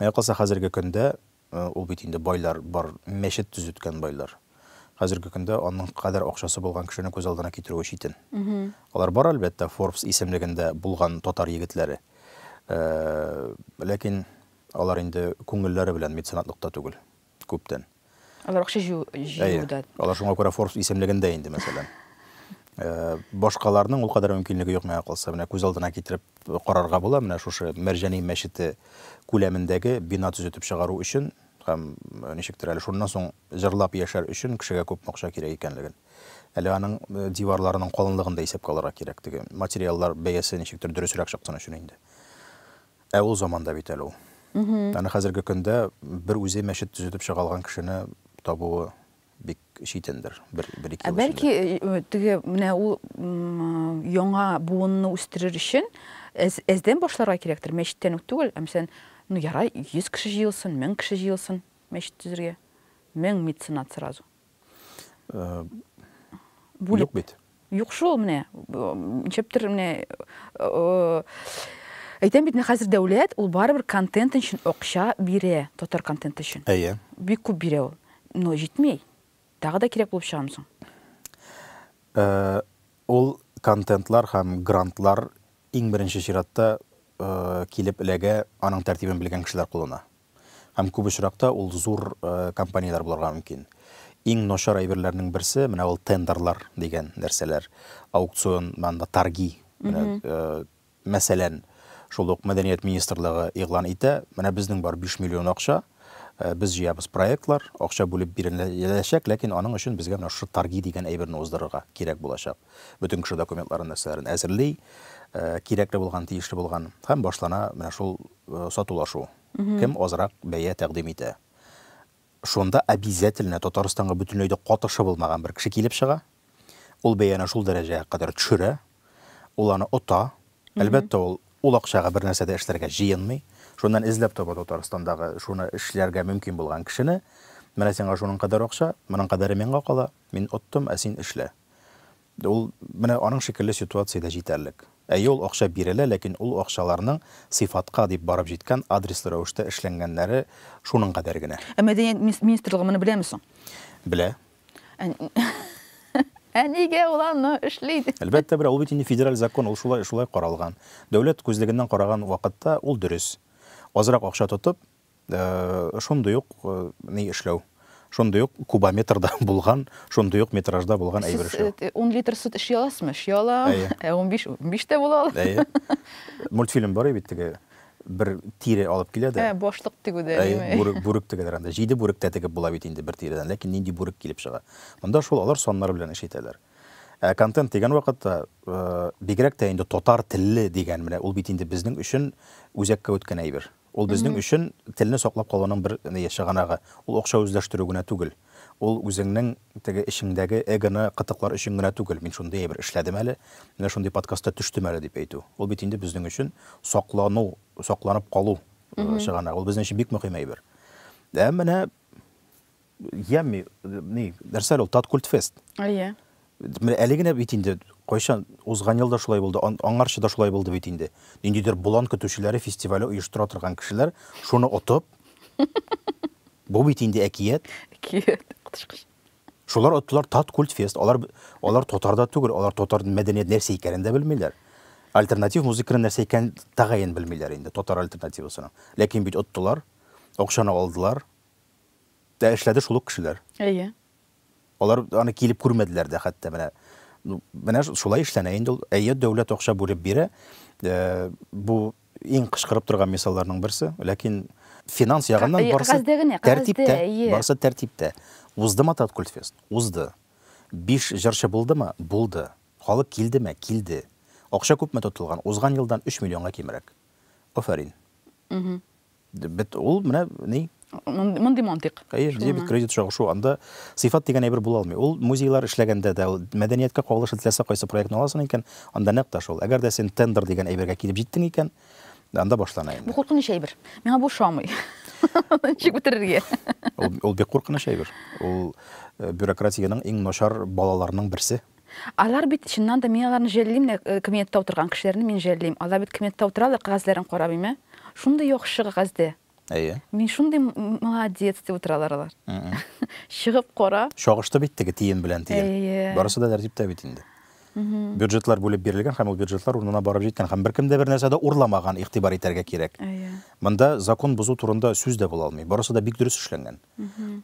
Менә калса хәзерге көндә Ул бит инде байлар бар, мәчет төзеткән байлар. Хәзерге көндә аның кадәр акчасы булган кешене күз алдына китерүе читен. Алар бар, әлбәттә, Forbes исемлегендә булган татар егетләре. Ләкин алар инде күңелләре белән меценатлыкта түгел, күптән. Алар акча җыюда. Әйе. Алар шуңа күрә Forbes исемлегендә инде, мәсәлән. Башкаларның ул кадәр мөмкинлеге юк, миңа калса. Менә күз алдына китереп карарга була, менә шушы Мәрҗани мәчете күләмендәге бина төзетеп чыгару өчен һәм ничектер әле шуннан соң җырлап яшәр өчен кешегә күпме акча кирәк икәнлеген. Әле аның диварларының калынлыгын да исәпкә алырга кирәк, теге материаллар бәясе ничектер дөресрәк чыксын өчен инде. Ә ул заманда бит әле ул. Аны хәзерге көндә бер үзе мәчет төзетеп чыга алган кешене табуы бик читендер, бер, бер ике Ә бәлки э, теге менә ул яңа буынны үстерер өчен әз, әздән башларга кирәктер, мәчеттән үк түгел, ә мәсәлән, ну ярай, 100 кеше җыелсын, 1000 кеше җыелсын мәчет төзергә. 1000 меценат сразу. Э, Бүлеп. Юк бит. Юк шул, менә, ничәптер, менә, әйтәм бит, менә хәзер дәүләт, ул барыбер контент өчен акча бирә, татар контенты өчен. Әйе. Бик күп бирә ул. Но җитми. Тагы да кирәк булып чыгамы соң? Ул контентлар һәм грантлар иң беренче чиратта килеп эләгә аның тәртибен белгән кешеләр кулына. Һәм күп очракта ул зур компанияләр булырга мөмкин. Иң начар әйберләрнең берсе, менә ул тендерлар дигән нәрсәләр, аукцион, монда торги. Менә, мәсәлән, шул ук мәдәният министрлыгы игълан итә, менә безнең бар 5 миллион акча, без җыябыз проектлар, акча бүлеп биреләчәк, ләкин аның өчен безгә менә шушы торги дигән әйберне уздырырга кирәк булачак. Бөтен кеше документларын, нәрсәләрен әзерли, кирәкле булган, тиешле булган, һәм башлана менә шул Сатулашу. Кем азрак бәя тәкъдим итә. Шунда обязательно Татарстанга бөтенләй дә катышы булмаган бер кеше килеп чыга. Ул бәяне шул дәрәҗәгә кадәр төшерә. Ул аны ота. Әлбәттә, ул ул акчага бернәрсә дә эшләргә җыенмый. Шуннан эзләп таба Татарстандагы шуны эшләргә мөмкин булган кешене. Менә сиңа шуның кадәр акча, моның кадәре миңа кала, мин оттым, ә син эшлә. Ул менә аның шикелле ситуациядә җитәрлек. Әйе, ул акча бирелә, ләкин ул акчаларның сыйфатка дип барып җиткән, адреслы рәвештә эшләнгәннәре шуның кадәр генә. Ә мәдәният министрлыгы моны беләме соң? Белә. Ә нигә ул аны эшли? Әлбәттә белә, ул бит инде федераль закон, ул шулай каралган. Дәүләт күзлегеннән караган вакытта ул дөрес. Азрак акча тотып, Шундый ук ни эшләү, шундый ук кубометрда булган, шундый ук метражда булган әйбер эшләү. Сез 10 литр сөт эшли аласызмы? Эшли алам. Ә 15, 15 тә була ала. Әйе. Мультфильм бар бит теге бер тире алып килә дә. Ә, башлык тегүдә. Әйе, бүрек, бүрек тегәләр анда. Җиде бүрек тә тегеп була бит инде бер тиредән, ләкин нинди бүрек килеп чыга. Монда шул алар саннар белән эш итәләр. Ә контент дигән вакытта, бигрәк тә инде татар телле дигән, менә ул бит инде безнең өчен үзәккә үткән әйбер. Ул безнең өчен телне саклап калуның бер чыганагы. Ул акча үзләштерү генә түгел. Ул үзеңнең теге эчеңдәге эгоны кытыклар өчен генә түгел, мин шундый әйбер эшләдем әле, менә шундый подкастта төштем әле дип әйтү. Ул бит инде безнең өчен саклану, сакланып калу чыганагы. Ул безнең өчен бик мөһим әйбер. Ә менә Ямми, ни, нәрсә әле ул, тат культфест. Әйе. Менә әле генә бит инде, кайчан, узган елда шулай булды, аңарчы да шулай булды бит инде. Ниндидер болан көтүчеләре фестивале оештыра торган кешеләр, шуны отып, бу бит инде әкият. Әкият, котышкыш. Шулар оттылар тат культфест, алар, алар татар да түгел, алар татар мәдәният нәрсә икәнен дә белмиләр. Альтернатив музыканың нәрсә икәнен тәгаен белмиләр инде, татар альтернативасының. Ләкин бит оттылар, акчаны алдылар, Дә эшләде шул ук кешеләр. Әйе. Алар аны килеп күрмәделәр дә хәтта менә. Ну, менә шулай эшләнә инде ул. Әйе, дәүләт акча бүлеп бирә. Э, бу иң кычкырып торган мисалларның берсе, ләкин финанс ягыннан Ка- барсы кәгазьдә генә, кәгазьдә, тәртиптә, әйе. барсы тәртиптә. Уздымы Таткультфест? Узды. Биш җырчы булдымы? Булды. Халык килдеме? Килде. Акча күпме тотылган? Узган елдан 3 миллионга кимрәк. Афәрин. Бит ул менә ни? Мондый мантык. Хәер, дебет, кредит чагышу. Анда сыйфат дигән әйбер була алмый. Ул музейлар эшләгәндә дә, мәдәнияткә кагылышлы теләсә кайсы проектны аласың икән, анда нәкъ тә шул. Әгәр дә син тендер дигән әйбергә килеп җиттең икән, анда башлана инде. Бу куркыныч әйбер. Миңа бу ошамый. Ничек бетерергә? Ул бик куркыныч әйбер. Ул э, бюрократиянең иң начар балаларының берсе. Алар бит, чыннан да, мин аларны жәллим дә, кабинетта утырган кешеләрне мин жәллим. Алар бит кабинетта утыралар, кәгазьләрен карап име? Шундый яхшы кәгазьдә. Әйе. Мин шундый молодец дип утыралар алар. Чыгып кара. Чагышты бит теге тиен белән тиен. Әйе. Барысы да тәртиптә бит инде. Бюджетлар бүлеп бирелгән һәм ул бюджетлар урынына барып җиткән һәм беркем дә бер нәрсә дә урламаган, игътибар итәргә кирәк. Әйе. Монда закон бозу турында сүз дә була алмый. Барысы да бик дөрес эшләнгән.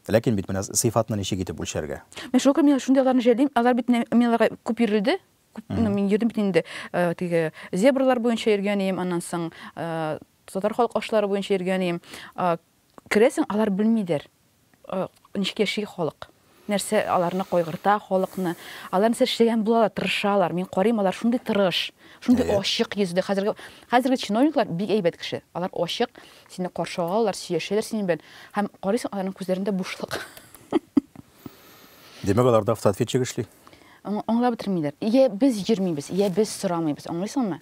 Ләкин бит менә сыйфатны ничек итеп үлчәргә? Мен шул көне мин шундый аларны җәлим, алар бит мин аларга күп йөрелде, күп ну, мин йөрдем бит инде э, теге зебралар буенча йөргән идем, аннан соң э, татар халык ашлары буенча йөргән идем. Э, керәсең, алар белмидер, ничек яши халык. Нәрсә аларны кайгырта халыкны? Алар нәрсә эшләгән булалар, тырышалар, мин карыйм, алар шундый тырыш, шундый Әйе. ачык йөзле. Хәзерге хәзерге чиновниклар бик әйбәт кеше. Алар ачык, сине каршы алалар, сөйләшәләр синең белән. Һәм карыйсың, аларның күзләрендә бушлык. Димәк, аларда автоответчик эшли? Аңла аңлап бетермиләр. Йә без йөрмибез, йә без сорамыйбыз, аңлыйсыңмы?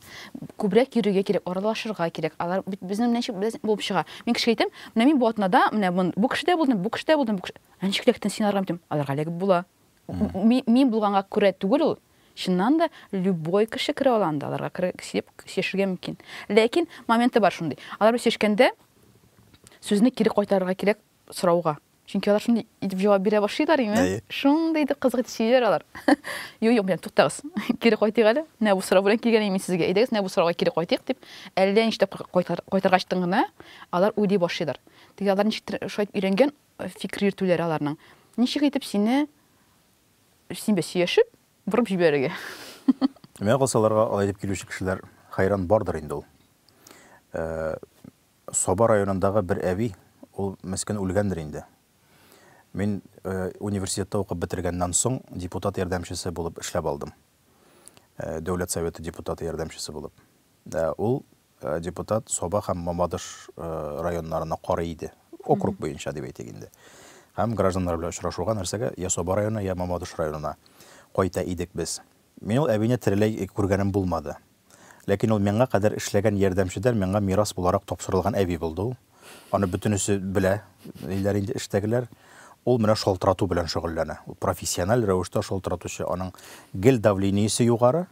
Күбрәк йөрергә кирәк, аралашырга кирәк. Алар бит безнең белән ничек без булып чыга. Мин кешегә әйтәм, менә мин бу атнада, менә мон- бу кешедә булдым, бу кешедә булдым, бу кеше. Ә ничек ләкин син арган бит? Аларга эләгеп була. Мин булганга күрә түгел ул. Чыннан да, любой кеше керә ала анда, аларга сөйләшергә мөмкин. Ләкин моменты бар шундый. Алар белән сөйләшкәндә сүзне кире кайтарырга кирәк сорауга. Чөнки алар шундый итеп җавап бирә башлыйлар инде. Шундый итеп кызык итеп сөйлиләр алар. Юк, юк, белән туктагыз. Кире кайтыйк әле. Менә бу сорау белән килгән мин сезгә. Әйдәгез, менә бу сорауга кире кайтыйк дип, әллә ничек кайтаргачтын гына алар уйлый башлыйлар. Теге алар ничектер шулай итеп өйрәнгән, Фикер йөртүләре аларның. Ничек итеп сине, син бе сөяшеп, борып җибәрергә? Миңа калса, аларга алай дип килүче кешеләр хәйран бардыр инде ул. Саба районындагы бер әби, ул мескен үлгәндер инде. Мин университетта укып бетергәннән соң депутат ярдәмчесе булып эшләп алдым. Дәүләт Советы депутаты ярдәмчесе булып. Ул Депутат Саба һәм Мамадыш районнарына карый иде. Округ буенча дип әйтик инде. Һәм гражданнар белән очрашуга нәрсәгә? Я Саба районына, я Мамадыш районына кайта идек без. Мин ул әбине тереләй күргәнем булмады. Ләкин ул миңа кадәр эшләгән ярдәмчедән миңа мирас буларак тапшырылган әби булды ул. Аны бөтенесе белә, ниләр инде эштәгеләр. Ул менә шалтырату белән шөгыльләнә. Ул профессиональ рәвештә шалтыратучы. Аның гел давлениесе югары.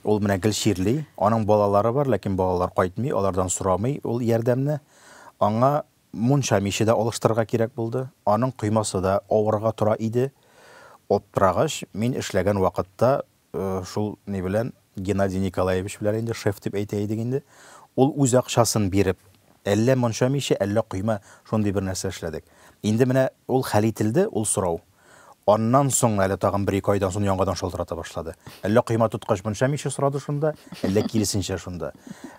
Ул менә гел чирли. Аның балалары бар, ләкин балалар кайтмый, алардан сорамый ул ярдәмне. Аңа мунча миче дә алыштырырга кирәк булды. Аның коймасы да авырга тора иде. Аптырагач, мин эшләгән вакытта Шул ни белән, Геннадий Николаевич белән инде, шеф дип әйтә идек инде. Ул үз акчасын биреп, әллә монча миче, әллә койма, шундый бер нәрсә эшләдек. Инде менә ул хәл ителде, ул сорау. Аннан соң әле тагын бер-ике айдан соң яңадан шалтырата башлады. Әллә койма тоткач монча миче сорады шунда, әллә киресенчә шунда.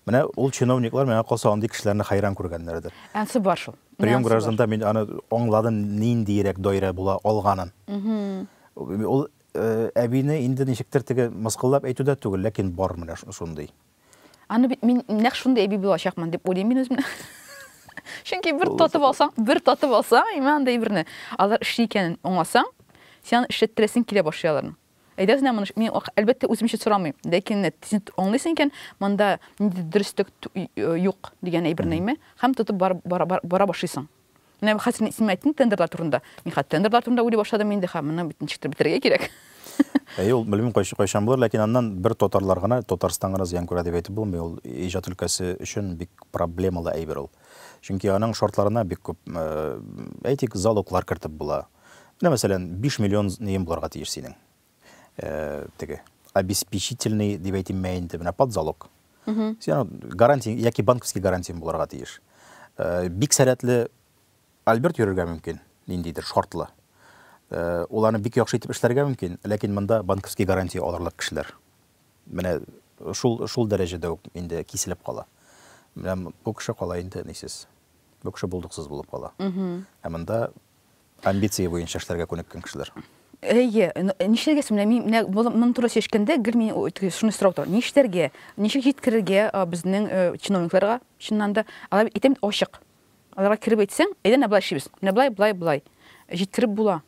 Менә ул чиновниклар, миңа калса, андый кешеләрне хәйран күргәннәрдер. Ансы бар шул. Прием гражданда мин аны аңладым, ниндиерәк даирә була алганын. Ул Әбине инде ничектер теге мыскыллап әйтү дә түгел, ләкин бар менә шундый. Аны бит мин нәкъ шундый әби булачакмын дип уйлыйм мин үземне. Чөнки бер татып алсаң, бер татып алсаң, имә андый берне, алар эшли икәнен аңласаң, син аны эшләттерәсең килә башлый аларның. Әйдәгез менә моны, мин әлбәттә үзем өчен сорамыйм, ләкин менә син аңлыйсың икән, монда ниндидер дөреслек юк дигән әйберне, имә, һәм тотып бара бара бара башлыйсың. Менә бу хәзер син әйттең тендерлар турында. Мин хәзер тендерлар турында уйлый башладым инде, һәм моны бит ничектер бетерергә кирәк. Әйе, ул белмим кайчан булыр, ләкин аннан бер татарлар гына, Татарстан гына зыян күрә дип әйтеп булмый, ул иҗат өлкәсе өчен бик проблемалы әйбер ул. Чөнки аның шартларына бик күп, әйтик, залоглар кертеп була. Менә мәсәлән, биш миллион нең булырга тиеш синең. теге обеспечительный дип әйтимме инде менә под залог гарантия яки банковский гарантия булырга тиеш бик сәләтле альберт йөрергә мөмкин ниндидер шартлы уларны бик яхшы итеп эшләргә мөмкин ләкин монда банковский гарантия алырлык кешеләр менә шул шул дәрәҗәдә үк инде киселеп кала менә бу кеше кала инде нисез бу кеше булдыксыз булып кала ә монда Амбиция буенча эшләргә күнеккән кешеләр. Әйе, нишләргә соң? Менә мин менә моның турында сөйләшкәндә гел мин шуны сорап торам. Нишләргә? Ничек җиткерергә безнең чиновникларга, чыннан да? Алар әйтәм бит ачык. Аларга кереп әйтсәң, әйдә менә болай эшлибез. Менә болай, болай, болай. Җиткереп була.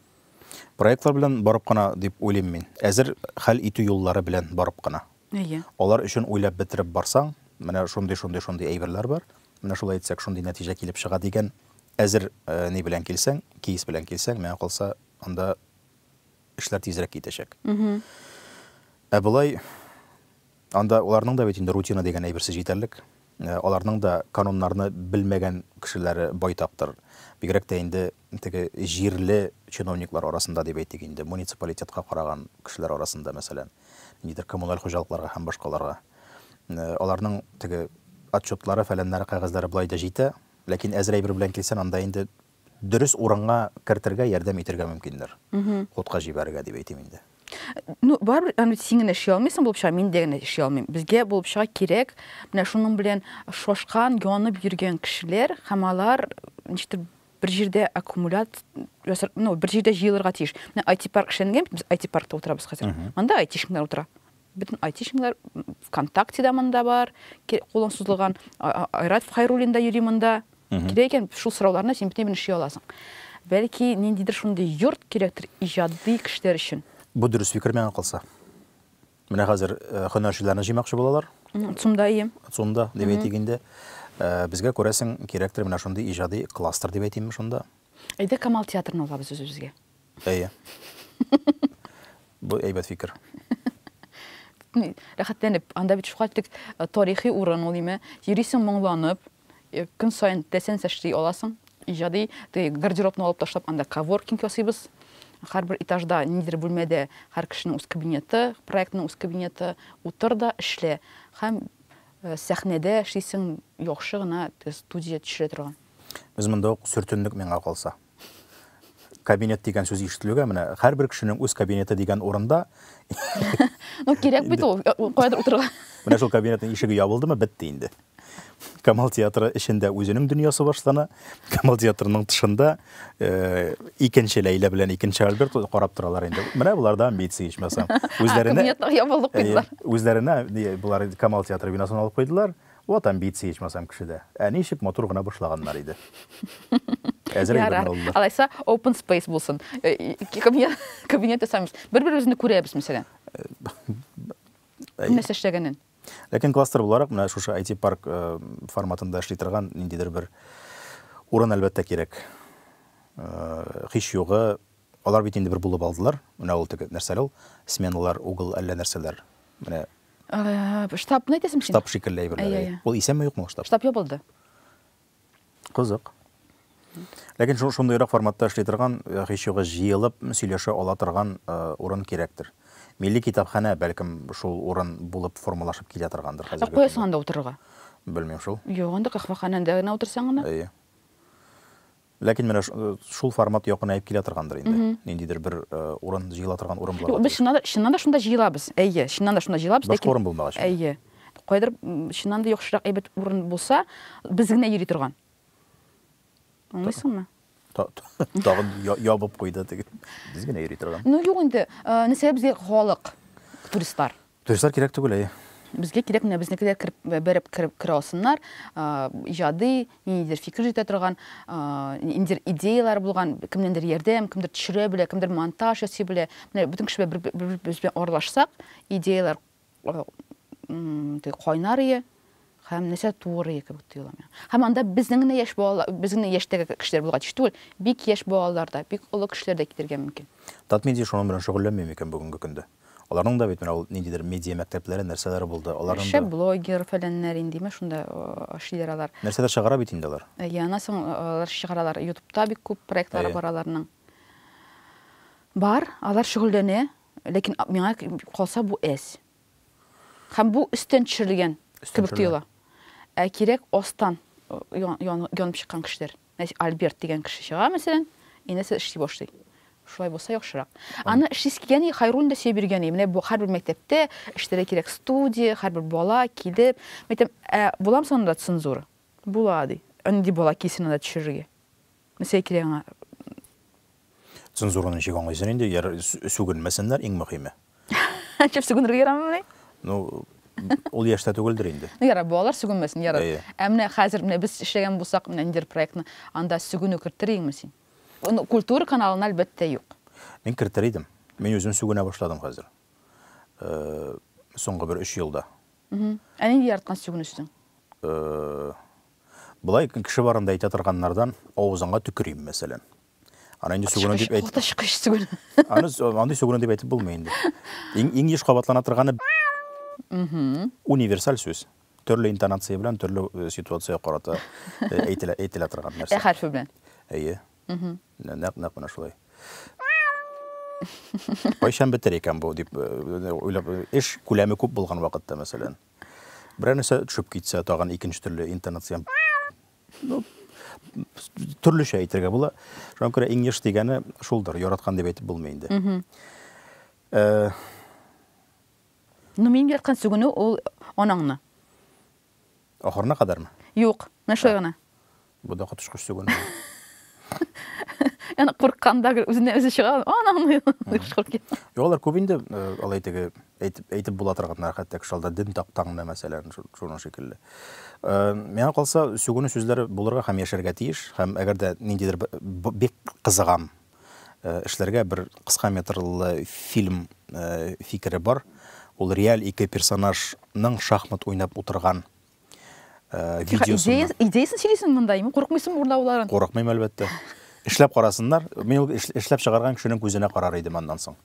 Проектлар белән барып кына дип уйлыйм мин. Әзер хәл итү юллары белән барып кына. Әйе. Алар өчен уйлап бетереп барсаң, менә шундый, шундый, шундый әйберләр бар, менә шулай итсәк, шундый нәтиҗә килеп чыга дигән әзер ни белән килсәң, кейс белән килсәң, миңа калса, анда эшләр тизрәк китәчәк. Ә болай, анда аларның да бит инде рутина дигән әйберсе җитәрлек. Аларның да кануннарны белмәгән кешеләре байтактыр. Бигрәк тә инде теге җирле чиновниклар арасында дип әйтик инде, муниципалитетка караган кешеләр арасында, мәсәлән, ниндидер коммуналь хуҗалыкларга һәм башкаларга. Аларның теге отчетлары, фәләннәре, кәгазьләре болай да җитә, ләкин әзер әйбер белән килсәң, анда инде дөрес урынга кертергә, ярдәм итергә мөмкиндер. Хутка җибәрергә дип әйтим инде. Ну, барыбер аны син генә эшли алмыйсың булып чыга, мин дә генә эшли алмыйм. Безгә булып чыга кирәк менә шуның белән шашкан, янып йөргән кешеләр һәм алар ничектер бер җирдә аккумулят ясар, ну, бер җирдә җыелырга тиеш. Менә IT-парк эшләнгән, без IT-паркта утырабыз хәзер. Монда IT-шнар утыра. Бөтен айтишниклар ВКонтакте да монда бар, кулың сузылган Айрат Хайруллин да йөри монда. Кирәк икән шул сорауларны син бөтен белән эшли аласың. Бәлки ниндидер шундый йорт кирәктер иҗади кешеләр өчен. Бу дөрес фикер миңа калса. Менә хәзер э, һөнәрчеләрне җыймакчы булалар. Цумда ием. Цумда дип әйтик инде. Э, безгә күрәсең кирәктер менә шундый иҗади кластер дип әйтимме шунда. Әйдә Камал театрын алабыз үзебезгә. Әйе. Бу әйбәт фикер. Рәхәтләнеп, анда бит шука тик э, тарихи урын ул име. Йөрисең моңланып, э, көн саен теләсәң эшли аласың. Иҗади теге гардеробны алып ташлап, анда коворкинг ясыйбыз. Һәрбер этажда ниндидер бүлмәдә һәр кешенең үз кабинеты, проектның үз кабинеты, утыр да эшлә. Һәм э, сәхнәдә эшлисең яхшы гына теге студия төшерә торган. Без монда ук сөртендек миңа калса. Кабинет дигән сүз ишетелүгә менә һәрбер кешенең үз кабинеты дигән урында Ну, кирәк бит ул, кайдыр утырырга. Менә шул кабинетның ишеге ябылдымы, бетте инде. Камал театры эчендә үзенең дөньясы башлана. Камал театрының тышында э, икенче Ләйлә белән икенче Альберт карап торалар инде. Менә булар да амбиция ичмасам. Үзләренә Кабинетны ябылып куйдылар. Э, үзләренә не, булар Камал театры бинасын алып куйдылар. Вот амбиция ичмасам кешедә. Ә ничек матур гына башлаганнар иде. Әзер әйберне Ярар. алдылар. Алайса, open space булсын. Э, и- Кабинет, кабинет ясамыйбыз. Бер-беребезне күрәбез, мәсәлән. Кем нәрсә эшләгәнен. Ләкин кластер буларак менә шушы IT парк э, форматында эшли торган ниндидер бер урын әлбәттә кирәк. Э, Һич югы, алар бит инде бер булып алдылар. Менә ул теге нәрсәле ул? Сменалар, угол әллә нәрсәләр. Менә Э, штабны әйтәсең син? Штаб шикелле әйберләр. Ул исәнме юкмы штаб? Штаб ябылды. Кызык. Ләкин шундыйрак форматта эшли торган, э, һич югы җыелып сөйләшә ала торган э, урын кирәктер. Милли китапханә бәлкем шул урын булып формалашып килә торгандыр хәзер. Ә куясың анда утырырга? Белмим шул. Юк, анда кахваханәдә генә утырсаң гына. Әйе. Ләкин менә шул формат якынәеп килә торгандыр инде. Ниндидер бер урын җыела торган урын булырга тиеш. Без чыннан да, чыннан да шунда җыелабыз. Әйе, чыннан да шунда җыелабыз. Башка урын булмагач. Әйе. Кайдыр чыннан да яхшырак әйбәт урын булса, без генә йөри торган. Аңлыйсыңмы? Тагын ябып куйды теге. Без генә йөри торган. Ну юк инде, нәрсә безгә халык, туристлар. Туристлар кирәк түгел, әйе. Безгә кирәк менә безнекеләр кереп береп кереп керә алсыннар, иҗади ниндидер фикер җитә торган, ниндидер идеяләр булган, кемнәндер ярдәм, кемдер төшерә белә, кемдер монтаж ясый белә. Менә бөтен кеше бер-беребез белән аралашсак, идеяләр кайнар ие. Һәм нәрсә туырые кебек тоела миңа. Һәм анда безнең генә яшь балалар, без генә яшьтәге кешеләр булырга тиеш түгел, бик яшь балалар да, бик олы кешеләр дә китергә мөмкин. Татмедиа шуның белән шөгыльләнми микән бүгенге көндә? Аларның да бит менә ул ниндидер медиа мәктәпләре, нәрсәләре булды, аларның да. Шәп блогер, фәләннәр индиме, шунда эшлиләр алар. Нәрсәдер чыгара бит инде алар. Әйе, аннан соң алар чыгаралар. Ютубта бик күп проектлары бар аларның. Бар, алар шөгыльләнә, ләкин миңа калса бу әз. Һәм бу өстән төшерелгән кебек тоела. Ә кирәк астан янып чыккан кешеләр. Нәтиҗә Альберт дигән кеше чыга, мәсәлән, и нәрсә эшли башлый. Шулай булса яхшырак. Аны эшлисе килгән Хайруллин да сөйләп йөргән Менә бу һәрбер мәктәптә эшләргә кирәк студия, һәрбер бала килеп, мәктәп, ә буламы соңында цензура? Була, ди. Андый бала килсен анда төшерергә. Нәрсә кирәк аңа? Цензураны ничек аңлыйсың инде? Яр, сүгенмәсеннәр, иң мөхиме. Чеп сүгенергә ярамыймыни? Ну, ул яшьтә түгелдер инде. Ну, ярар, балалар сүгенмәсен, ярар. Әйе. Ә менә хәзер менә без эшләгән булсак, менә ниндидер проектны, анда сүгенү кертер идеңме син? Ну, культура каналына, әлбәттә, юк. Мин кертер идем. Мин үзем сүгенә башладым хәзер. Соңгы бер өч елда. Ә нинди яраткан сүгенү синең? Болай кеше барында әйтә торганнардан авызыңа төкерим, мәсәлән. Аны инде сүгенү дип әйтеп. Кылтыш кыш сүгенү. Аны андый сүгенү дип әйтеп булмый инде. Иң иң еш кабатлана торганы универсаль сүз. Төрле интонация белән төрле э, ситуация карата э, әйтелә әйтелә торган нәрсә. Ә хәрфе белән. Әйе. Нәкъ нәкъ менә шулай. Кайчан бетер икән бу дип э, уйлап эш күләме күп булган вакытта, мәсәлән. Берәр нәрсә төшеп китсә, тагын икенче төрле интонация. Ну, төрлечә әйтергә була. Шуңа күрә иң еш дигәне шулдыр, яраткан дип әйтеп булмый инде. Э, Ну, мин яраткан сүгенү ул анаңны. Ахырына кадәрме? Юк, менә шулай гына. Бу да коточкыч түгел. Яны куркканда гел үзенә үзе чыга, ананы кычкырып китә. Юллар күп инде алай теге әйтеп әйтеп була торганнар, хәтта шалда дим тактаңны мәсәлән, шуның шикелле. Миңа калса, сүгүне сүзләре булырга һәм яшәргә тиеш, һәм әгәр дә ниндидер бик кызыгам эшләргә бер кыска метрлы фильм фикере бар. Ул реаль ике персонажның шахмат уйнап утырган э, видеосында. Идеясын сөйлисең монда, имин курыкмыйсың урдауларын? Курыкмыйм әлбәттә. Эшләп карасыннар. Мин ул эшләп чыгарган кешенең күзенә карар идем аннан соң.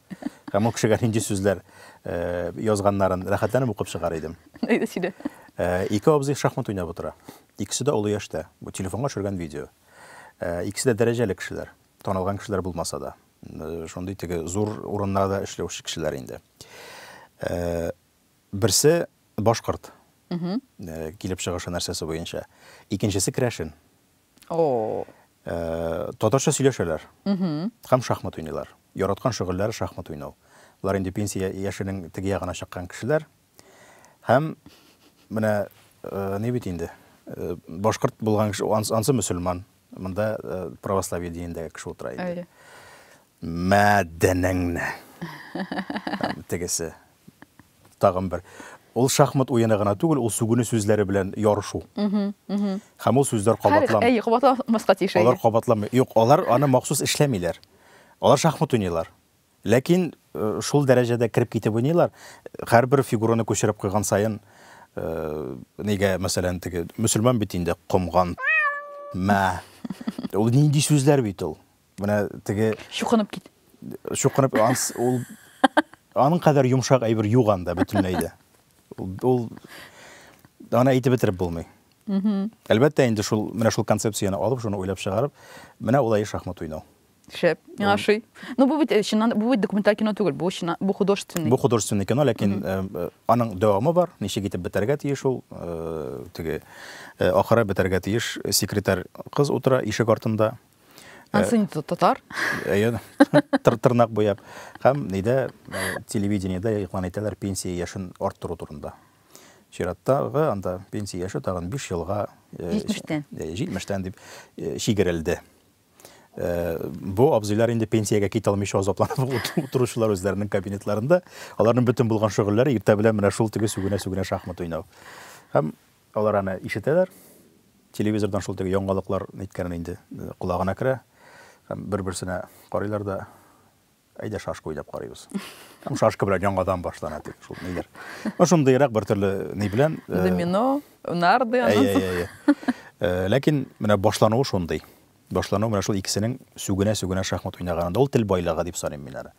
Һәм ул кешегә нинди сүзләр э, язганнарын рәхәтләнеп укып чыгар идем. Әйдә сөйлә. Э, ике абзый шахмат уйнап утыра. Икесе дә олы яшьтә. Бу телефонга төшергән видео. Э, икесе дә дәрәҗәле кешеләр. Танылган кешеләр булмаса да. Шундый теге зур урыннарда эшләүче кешеләр инде. Берсе башкорт килеп чыгышы нәрсәсе буенча, икенчесе керәшен. Татарча сөйләшәләр һәм шахмат уйныйлар. Яраткан шөгыльләре шахмат уйнау. Болар инде пенсия яшенең теге ягына чыккан кешеләр. Һәм менә ни бит инде, башкорт булган кеше, ансы мөселман. Монда э, православие динендәге кеше утыра инде. Әйе. Мәдәнеңне. Тегесе. Тагын бер. Ул шахмат уены гына түгел, ул сүгүне сүзләре белән ярышу. Һәм ул сүзләр кабатлам. Әйе, кабатламаска тиеш. Алар кабатламый. Юк, алар аны махсус эшләмиләр. Алар шахмат уйныйлар. Ләкин шул дәрәҗәдә кереп китеп уйныйлар, һәрбер фигураны күчереп куйган саен, нигә, мәсәлән, теге, мөселман бит инде, комган, мә, ул нинди сүзләр бит ул, менә теге. Чукынып кит. Чукынып, ул, аның кадәр йомшак әйбер юк анда бөтенләй дә. Ул, аны әйтеп бетереп булмый. Әлбәттә, инде шул, менә шул концепцияне алып, шуны уйлап чыгарып, менә улай шахмат уйнау. Шәп, миңа ошый. Ну, бу бит э, чыннан бу бит документаль кино түгел, бу чыннан бу художественный. Бу художественный кино, ләкин э, э, аның дәвамы бар. Ничек итеп бетәргә тиеш ул? Э, теге э, ахыры бетәргә тиеш. Секретарь кыз утыра ишек артында. Э, Ансы не татар. Әйе, тыр тырнак буяп. Һәм нидә э, телевидениедә игълан итәләр пенсия яшен арттыру турында. Чираттагы анда пенсия яше тагын 5 елга э, 70-тән. э, 70-тән дип э, чигерелде. Э, бу абзыйлар инде пенсиягә китә алмыйча азапланып утыручылар үзләренең кабинетларында аларның бөтен булган шөгыльләре иртә белән менә шул теге сүгенә сүгенә шахмат уйнау һәм алар аны ишетәләр телевизордан шул теге яңалыклар әйткәнен инде э, колагына керә һәм бер берсенә карыйлар да әйдә шашка уйнап карыйбыз һәм шашка белән яңадан башлана дип шул ниләр ну шундыйрак бер төрле ни белән э, домино нарды аннан соң ләкин менә башлануы шундый башлану менә шул икесенең сүгенә сүгенә шахмат уйнаганында ул тел байлыгы дип саныйм мин аны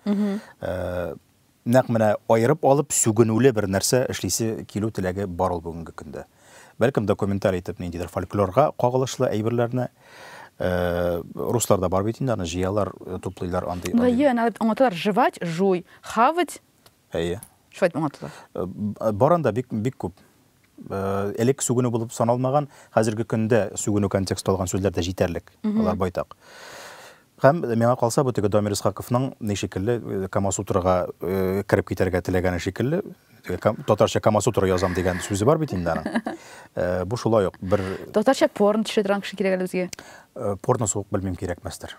нәкъ менә аерып алып сүгенүле бер нәрсә эшлисе килү теләге бар ул бүгенге көндә Бәлкем документаль итеп ниндидер фольклорга кагылышлы әйберләрне Э, руслар да бар бит инде аны җыялар э, туплыйлар андый ну әйе аны аңлаталар жевать жуй хавать әйе шулай дип аңлаталар э, бар анда бик бик күп элек сүгенү булып саналмаган хәзерге көндә сүгенү контексты алган сүзләр дә җитәрлек алар байтак Һәм, миңа калса, бу теге Дамир Исхаковның ни шикелле, Камасутрага кереп китәргә теләгәне шикелле, татарча Камасутра язам дигән сүзе бар бит инде аның. Бу шулай ук бер... Татарча порн төшә торган кеше кирәк әле безгә. Порно сугып белмим кирәкмәстер.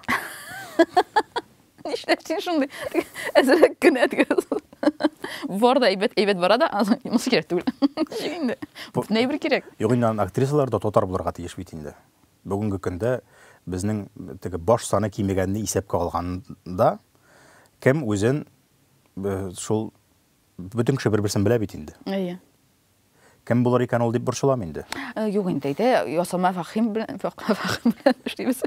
Нишләп син шундый әзрәк кенә дигәсең? Бар да әйбәт, әйбәт бара да, монысы кирәк түгел. Ничек инде? Бөтенләй бер кирәк. Юк инде, актрисалар да татар булырга тиеш бит инде. Бүгенге көндә безнең теге баш саны кимегәнне исәпкә алганда, кем үзен шул бөтен кеше бер-берсен белә бит инде. Әйе. Кем булыр икән ул дип борчылам инде. Э, юк инде, әйдә, ясалма фәхим белән, фәхим белән эшлибез.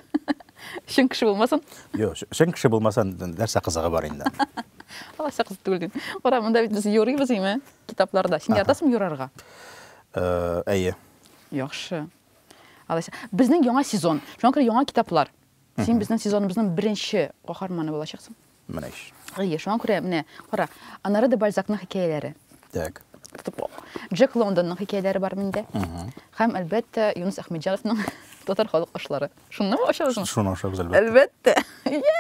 Чын кеше булмасын. Юк, чын кеше булмасын, нәрсә кызыгы бар инде. Алайса кызык түгел дим. Урамында бит без юрыйбыз име, китапларда. Син яратасың юрарга? Э, әйе. Яхшы. Алайса, безнең яңа сезон. Шуңа күрә яңа китаплар. Син безнең сезоныбызның беренче каһарманы булачаксың. Менә ич. Әйе, шуңа күрә менә, кара, Анара де Бальзакның хикәяләре. Так. Джек Лондонның хикәяләре бар миндә. Һәм, әлбәттә, Юнус Әхмәтҗановның татар халык ашлары. Шуны ашабызмы? Шуны ашабыз, әлбәттә. Әлбәттә.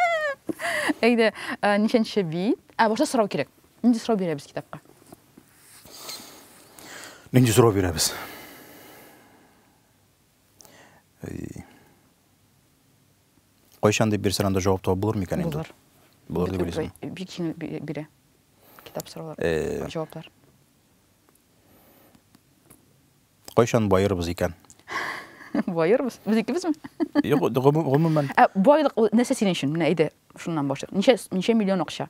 Әйдә, ничәнче бит? Ә, башта сорау кирәк. Нинди сорау бирәбез китапка? Нинди сорау бирәбез? Кайчан дип бирсәң анда җавап табып булыр микән инде? Булыр. Булыр дип уйлыйсың. Бик җиңел бирә. Китап сораулар, э, җаваплар. Кайчан баербыз икән? Баербыз? Без икебезме? Юк, гомумән. Ә байлык нәрсә синең өчен? Менә әйдә, шуннан башлыйк. Ничә ничә миллион акча?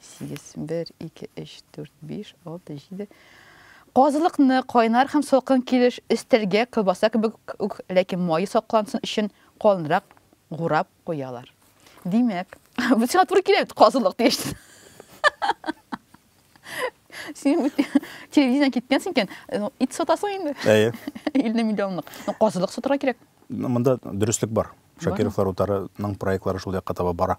Сигез, бер, ике, өч, дүрт, биш, алты, җиде. Казылыкны кайнар һәм салкын килеш өстәлгә колбаса кебек үк, ләкин мае саклансын өчен калынрак гурап куялар. Димәк, бу сиңа туры килә бит, казылык дигәч. Син бу телевидениедән киткәнсең икән, ну, ит сатасың инде. Әйе. 50 миллионлык. Ну, казылык сатырга кирәк. Ну, Монда дөреслек бар. Шакировлар утарының проектлары шул якка таба бара.